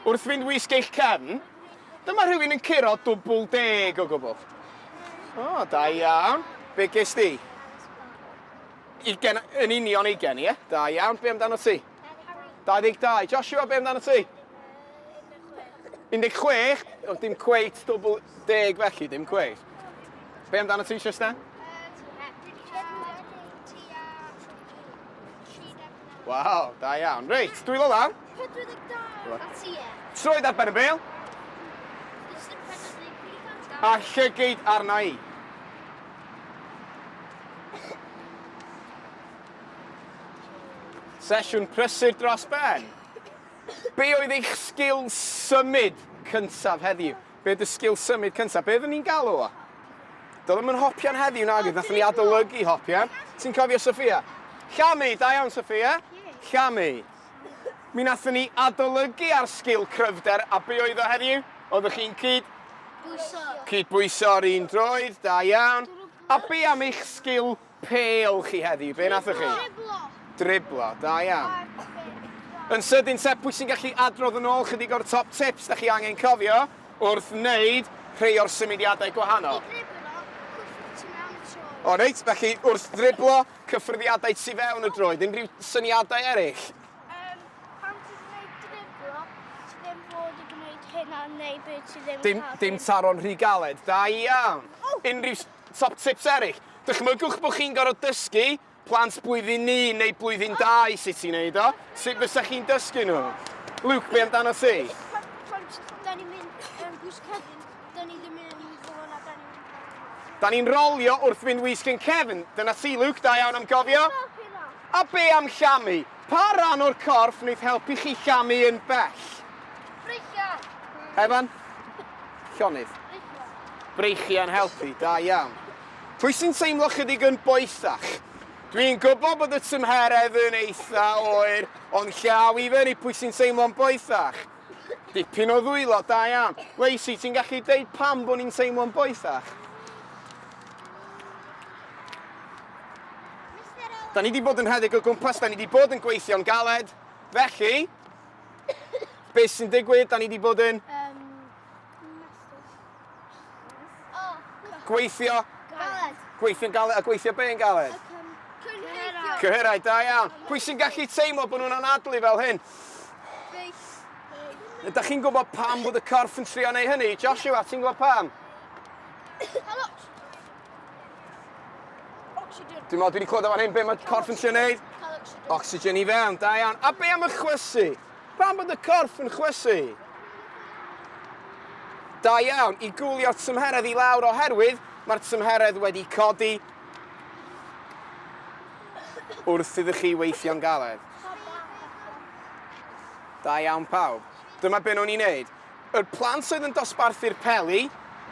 Wrth fynd wisg eich cefn, dyma rhywun yn curo dwbl deg o gwbl. O, da iawn. Be ges di? Ugen, yn union ugen, ie? Da iawn, be amdano ti? 22. Joshua, be amdano ti? 16, ond dim cweit dwbl deg felly, dim cweit. Be amdano ti, Tristan? Waw, da iawn. Reit, dwi ddod lan. 42 a ti e. Troed ar ben y bel. A llygyd arna i. Sesiwn prysur dros ben. Be oedd eich sgil symud cyntaf heddiw? Be oedd y sgil symud cyntaf? Be oeddwn ni'n galw o? Doedd ddim yn hopian heddiw nag oedd, nathon ni adolygu hopian. Ti'n cofio Sophia? Llamu, da iawn Sophia. Llamu. Mi nathon ni adolygu ar sgil cryfder a be oedd o heddiw? Oeddech chi'n cyd... Bwyso. Cydbwyso ar un droed, da iawn. A be am eich sgil pêl chi heddiw? Be nathoch chi? Driblo. Driblo, da iawn. Yn sydyn te, pwy sy'n gallu adrodd yn ôl chydig o'r top tips da chi angen cofio wrth wneud rhai o'r symudiadau gwahanol? I driblo, cwffio tu mewn y tro. O reit, felly wrth ddriblo, Cyffyrddiadau tu fewn y droed, unrhyw syniadau eraill? Um, pan ti'n gwneud driblo, ti ddim bod i gwneud hynna neu beth ti ddim dim, cael. Dim taro'n rhy galed, da iawn. Oh. Unrhyw top tips eraill? Dychmygwch bod chi'n gorfod dysgu plant blwyddyn ni neu blwyddyn oh. dau sut ti'n neud o. Sut fysa chi'n dysgu nhw? Luke, be amdano ti? Pan ti'n mynd yn gwisgedyn, Da ni ddim yn mynd i fod na da ni'n mynd i fod na. Da ni'n rolio wrth fynd wisg yn cefn. Dyna ti, Luke, da iawn am gofio. A be am llamu? Pa ran o'r corff wneith helpu chi llamu yn bell? Breichiau. Evan? Llonydd. Breichiau'n helpu, da iawn. Pwy sy'n teimlo chydig yn boethach? Dwi'n gwybod bod y tymheredd yn eitha oer, ond llaw i fyny pwy sy'n teimlo'n boethach. Dipyn o ddwylo, da iawn. Lacey, ti'n gallu deud pam bod ni'n teimlo'n boethach? Da ni wedi bod yn rhedeg o gwmpas, da ni wedi bod yn gweithio'n galed. Felly, beth sy'n digwydd? Da ni wedi bod yn... Um, Gweithio. Galed. Gweithio'n galed a gweithio be yn galed? Cyhyrau, da iawn. Pwy sy'n gallu teimlo bod nhw'n anadlu fel hyn? Ydych chi'n gwybod pam bod y corff yn trio neu hynny? Joshua, ti'n gwybod pam? Dwi'n meddwl dwi wedi clywed o'n hyn, be mae corff yn trio neud? Oxygen i fewn, da iawn. A be am y chwysu? Pam bod y corff yn chwysu? Da iawn i gwlio'r tymheredd i lawr oherwydd mae'r tymheredd wedi codi wrth iddo chi weithio'n galed. Da iawn pawb. Dyma be' nhw'n ei wneud. Yr plant oedd yn dosbarthu'r peli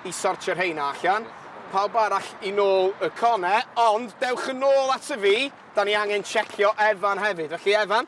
i sortio rheina allan. Pawb arall i nôl y cone, ond dewch yn ôl ato fi, da ni angen checio Efan hefyd. Felly Efan,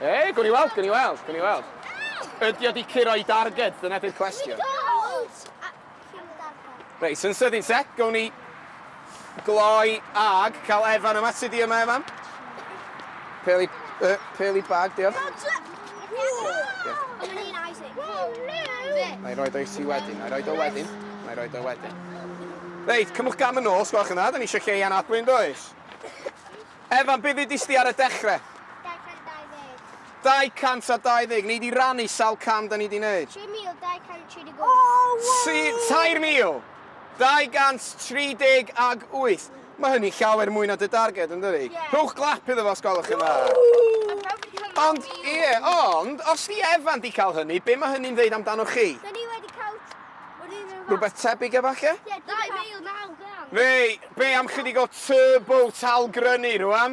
Ei, gwn i weld, gwn i weld, gwn i weld. Ydy o di curo i darged, dyna di'r cwestiwn. Reit, sy'n sydyn set, gwn i gloi ag cael Evan yma. Sut i yma, Evan? Peli, uh, peli bag, diolch. Mae roi do i ti wedyn, mae roi do wedyn, mae roi do wedyn. Reit, cymwch gam yn ôl, sgwelwch yna, da ni eisiau lle i anadlu yn does? Evan, beth ddudis di ar y dechrau? 220. Ni di rannu sawl cam da ni di wneud? 3,235. 3,000? 238! Mae hynny llawer mwy na dy darged, yn dydi? Ie. Rhowch glap iddo fo os gwelwch yn dda. Ww! Ond, ie, ond, os 'di Evan 'di cael hynny, be mae hynny'n ddeud amdanoch chi? Da ni wedi cael yr un un fath. Rhywbeth tebyg efalle? Ie, 2900! Fei, be am chydig o turbo tal grynu rwan?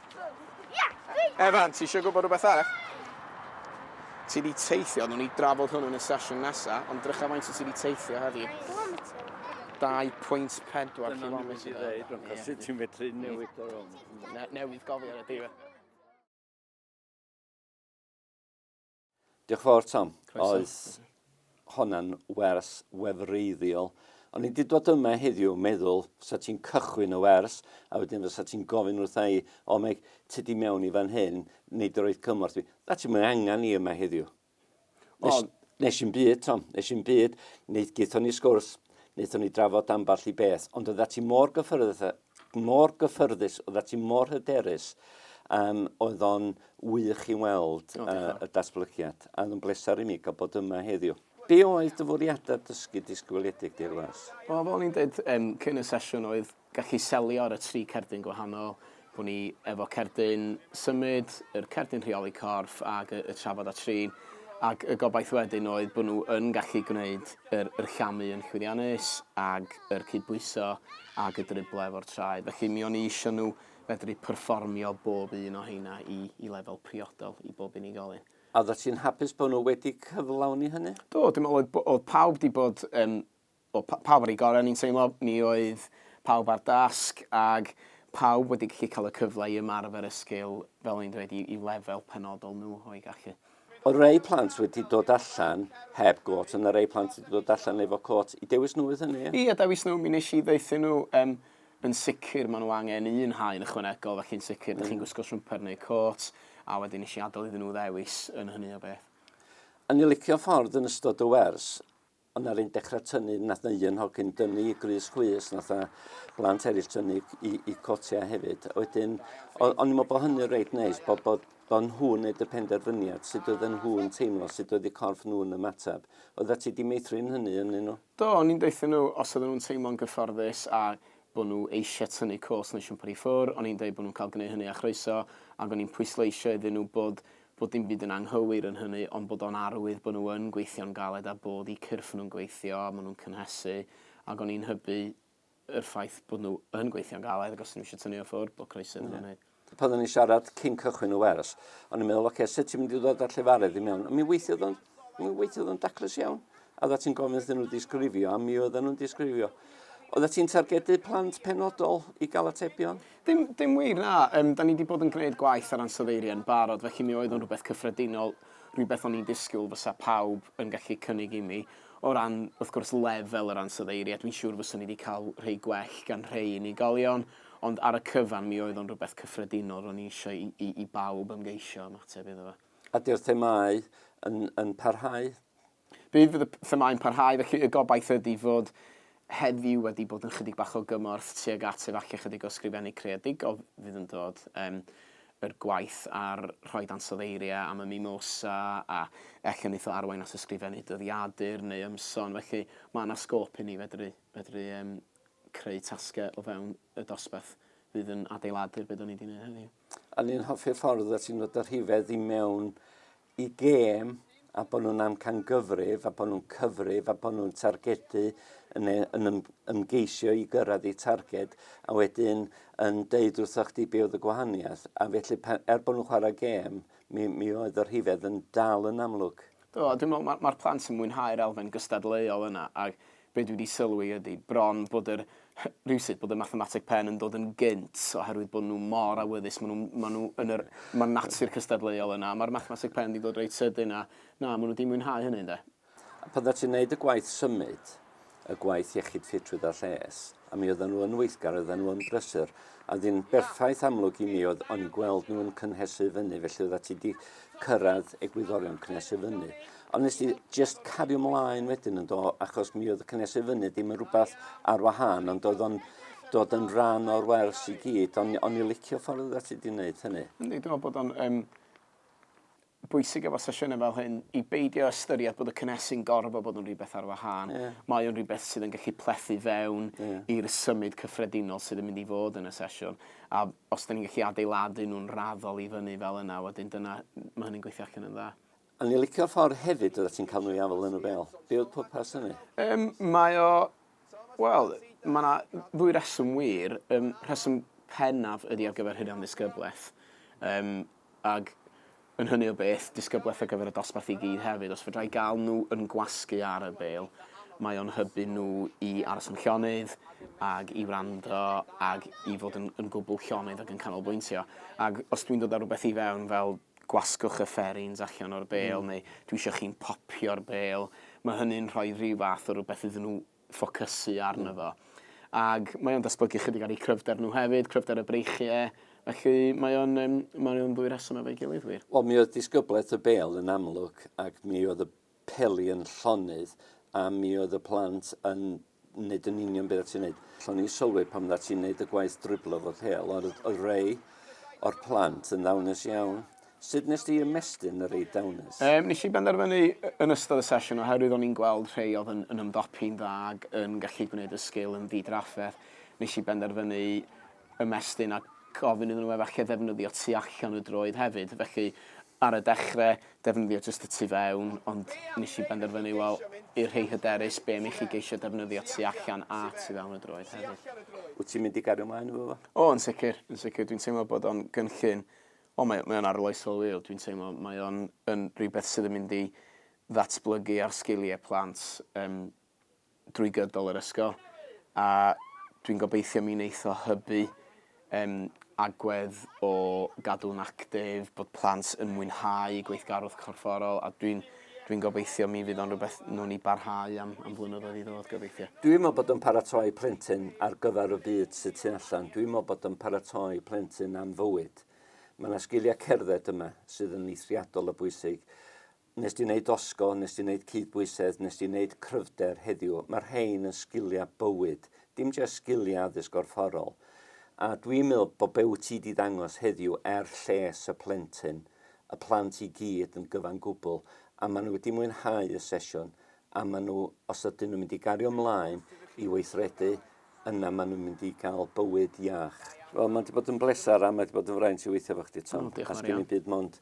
Evan, ti eisiau gwybod rhywbeth arall? Ti wedi teithio, nhw'n ni drafod hwnnw yn y sesiwn nesaf, ond drycha faint o ti wedi teithio heddi. 2.4 km. Ti'n medru newid o'r rhwng. Newydd gofio ar y diwedd. Diolch yn fawr Tom. Croeso. Oes honna'n wers wefreiddiol. O'n i 'di dod yma heddiw meddwl fysa ti'n cychwyn y wers a wedyn fysa ti'n gofyn wrtha i, o Meg, ti di mewn i fan hyn, neu dy roed cymorth fi. Na ti'n mynd angen i yma heddiw. Nes, nes i'n byd, Tom, nes i'n byd, wneud gaethon ni sgwrs, wnaethon ni drafod amball i beth, ond oedda ti mor gyffyrdd mor gyffyrddus, oedd ati mor hyderus, um, oedd o'n wych i weld oh, uh, y datblygiad, a oedd yn bleser i mi gael bod yma heddiw. Be oedd dy fwriadau dysgu disgwyliedig di'r was? Wel, fel ni'n dweud um, cyn y sesiwn oedd gallu selio ar y tri cerdyn gwahanol. Bo ni efo cerdyn symud, yr cerdyn rheoli corff ac y, y trafod a trin. Ac y gobaith wedyn oedd bod nhw yn gallu gwneud yr, yr llamu yn llwyddiannus ac yr cydbwyso ag y driblau efo'r traed. Felly mi o'n i isio nhw fedru perfformio bob un o heina i, i lefel priodol i bob unigolyn. A oeddet ti'n hapus bod nhw wedi cyflawni hynny? Do, dwi'n meddwl oedd, oedd pawb wedi bod um, o, pawb ar ei gorau, ni'n teimlo, mi oedd pawb ar dasg ag pawb wedi gallu cael y cyfle i ymarfer y sgil, fel o'n i'n dweud, i, i lefel penodol nhw o'i gallu. Oedd rei plant wedi dod allan heb gôt, ond na rei plant wedi dod allan efo côt. I dewis nhw oedd hynny? Ie, dewis nhw. Mi nes i ddeuthu nhw, um, yn sicr maen nhw angen un haen ychwanegol, felly yn sicr, mm. chi'n gwisgo siwmper neu côt, a wedyn nes i adael iddyn nhw ddewis yn hynny o beth. A ni licio ffordd yn ystod y wers, Ond na'r un dechrau tynnu, nath na un hogyn dynnu i grys chwys, nath na blant eraill tynnu i, i cotiau hefyd. Wedyn, o'n i'n meddwl bod hynny'n reit neis, bod, bod, bod nhw'n neud y penderfyniad sut oedden nhw'n teimlo, sut oedd eu corff nhw'n ymateb. Oedda ti di meithrin hynny yn nhw? Do, o'n i'n deutha nhw os oedden nhw'n teimlo'n gyfforddus a bod nhw eisiau tynnu cwls neu siwmpar i ffwr, o'n i'n dweud bod nhw'n cael gwneud hynny â chroeso, ac o'n i'n pwysleisio iddyn nhw bod fod dim byd yn anghywir yn hynny ond bod o'n arwydd bod nhw yn gweithio'n galed a bod eu cyrff nhw'n gweithio a maen nhw'n cynhesu ac o'n i'n hybu yr ffaith bod nhw yn gweithio'n galed ac os nhw eisiau tynnu o ffwrdd bod croeso iddyn nhw pan o'n i'n siarad cyn cychwyn y wers, o'n i'n meddwl, oce, okay, sut ti'n mynd i ddod â'r llefarydd i mewn? Mi weithiodd o'n, mi weithiodd o'n daclus iawn. A oeddet ti'n gofyn iddyn nhw disgrifio, a mi oedden nhw'n disgrifio. Oeddet ti'n targedu plant penodol i gael atebion? Dim, dim wir, na. Um, da ni wedi bod yn gwneud gwaith ar ansoddeiriau yn barod, felly mi oedd o'n rhywbeth cyffredinol, rhywbeth o'n i'n disgwyl fysa pawb yn gallu cynnig i mi. O ran, wrth gwrs, lefel yr ansoddeiriau, dwi'n siŵr fysa ni wedi cael rhai gwell gan rhai unigolion, ond ar y cyfan mi oedd o'n rhywbeth cyffredinol, ro'n i eisiau i, i, i bawb ymgeisio ymateb iddo fo. A di'r themau yn, yn parhau? Bydd y themâu'n parhau, felly y gobaith ydy fod heddiw wedi bod yn chydig bach o gymorth tuag at efallai chydig o ysgrifennu creadigol fydd yn dod. Yym yr gwaith ar rhoi dansoddeiria am y Mimosa a elle neith o arwain at ysgrifennu dyddiadur neu ymson felly ma' 'na sgôp inni fedru fedru yym creu tasge o fewn y dosbarth fydd yn adeiladu'r be' 'da ni 'di neud heddiw. O'n i'n hoffi'r ffordd o't ti'n dod â rhifedd i mewn y gêm a bod nhw'n amcangyfrif a bod nhw'n cyfrif a bod nhw'n targedu yn, e, yn ym, ymgeisio i gyrraedd eu targed a wedyn yn deud wrtho chdi be oedd y gwahaniaeth a felly pan, er bod nhw'n chwarae gêm mi, mi oedd y rhifedd yn dal yn amlwg. Do, dwi'n meddwl mae'r ma plant yn mwynhau'r elfen gystadleuol yna ac Be dwi 'di sylwi ydi bron bod yr rywsut bod y mathemateg pen yn dod yn gynt oherwydd bod nhw mor awyddus, maen nhw, maen nhw yn yr, mae'r natur cystadleuol yna a mae'r mathemateg pen 'di dod reit sydyn a na, maen nhw 'di mwynhau hynny ynde. A pan ddath ti'n neud y gwaith symud, y gwaith iechyd ffitrwydd a lles, a mi oedden nhw yn weithgar, oedden nhw yn brysur, a oedd hi'n berffaith amlwg i mi oedd o'n i'n gweld nhw yn cynhesu fyny, felly oedda ti 'di cyrraedd egwyddorion cynhesu fyny. Ond nes i just cario mlaen wedyn yn do, achos mi oedd y cynnes i fyny ddim yn rhywbeth ar wahân, ond oedd o'n dod yn rhan o'r wers i gyd, ond on i licio ffordd oeddet ti wedi gwneud hynny. Yndi, dwi'n meddwl bod o'n um, bwysig efo sesiynau fel hyn i beidio ystyried bod y cynnesu'n gorfod bod yn rhywbeth ar wahân. Yeah. Mae o'n rhywbeth sydd yn gallu plethu fewn yeah. i'r symud cyffredinol sydd yn mynd i fod yn y sesiwn. A os da ni'n gallu adeiladu nhw'n raddol i fyny fel yna, wedyn dyna, mae hynny'n gweithio allan yn dda. O'n i'n licio'r ffordd hefyd oeddet ti'n cael nhw i afael yn y bêl. Be oedd pwrpas hynny? Um, mae o... Wel, mae yna ddwy reswm wir. Um, rheswm pennaf ydy ar gyfer hynny am ddisgyblaeth. Um, ag yn hynny o beth, disgyblaeth ar gyfer y dosbarth i gyd hefyd. Os fydra i gael nhw yn gwasgu ar y bêl, mae o'n hybu nhw i aros yn llonydd ag i wrando ag i fod yn, yn gwbl llonydd ag yn canolbwyntio. Ag os dwi'n dod ar rhywbeth i fewn fel gwasgwch y fferins allan o'r bêl neu dwi isio chi'n popio'r bêl, mae hynny'n rhoi rhyw fath o rhywbeth iddyn nhw ffocysu arno fo. Ac mae o'n datblygu chydig ar eu cryfder nhw hefyd, cryfder y breichiau, felly mae o'n um, mae o'n ddwy reswm efo'i gilydd wir. Wel, mi oedd disgyblaeth y bêl yn amlwg ac mi oedd y peli yn llonydd a mi oedd y plant yn nid yn union beth ti'n neud. O'n i'n sylwi pan dda ti'n neud y gwaith driblo fod hel, ond oedd rei o'r plant yn ddawnus iawn. Sut nes di ymestyn y rei dawnus? Um, nes i benderfynu yn ystod y sesiwn oherwydd o'n i'n gweld rhai oedd yn, yn ymdopi'n dda ac yn gallu gwneud y sgil yn ddidrafferth. Nes i benderfynu ymestyn a gofyn iddyn nhw efallai ddefnyddio tu allan y droed hefyd. Felly, ar y dechrau, defnyddio jyst y tu fewn, ond nes i benderfynu, wel, i'r rhei hyderus, be am i chi geisio defnyddio tu allan a tu fewn y droed hefyd. Wyt ti'n mynd i gario ymlaen efo fo? O, yn sicr, yn sicr. Dwi'n teimlo bod o'n gynllun, o, mae, mae o'n arloesol wir. Dwi'n teimlo mae o'n yn rhywbeth sydd yn mynd i ddatblygu ar sgiliau plant um, drwy gydol yr ysgol a dwi'n gobeithio mi wneith o hybu um, agwedd o gadw'n actif, bod plant yn mwynhau gweithgarwch corfforol a dwi'n dwi'n gobeithio mi fydd o'n rhywbeth nhw'n ni barhau am, am flynyddoedd i ddod gobeithio. Dwi'n meddwl bod yn paratoi plentyn ar gyfer y byd sydd tu allan. Dwi'n meddwl bod yn paratoi plentyn am fywyd. Mae yna sgiliau cerdded yma sydd yn eithriadol o bwysig. Wnest ti wneud dosgo, wnest ti wneud cydbwysedd, wnest ti wneud cryfder heddiw. Mae'r rhein yn sgiliau bywyd, dim jyst sgiliau addysg gorfforol. A dwi'n meddwl bod be wyt ti 'di ddangos heddiw er lles y plentyn, y plant i gyd yn gyfan gwbl, a maen nhw wedi mwynhau y sesiwn, a maen nhw, os ydyn nhw'n mynd i gario ymlaen i weithredu, yna maen nhw'n mynd i gael bywyd iach. Wel, mae 'di bod yn bleser a mae 'di bod yn fraint i weithio efo chdi, Tom. O, diolch yn fawr iawn. A sgen i'm byd mond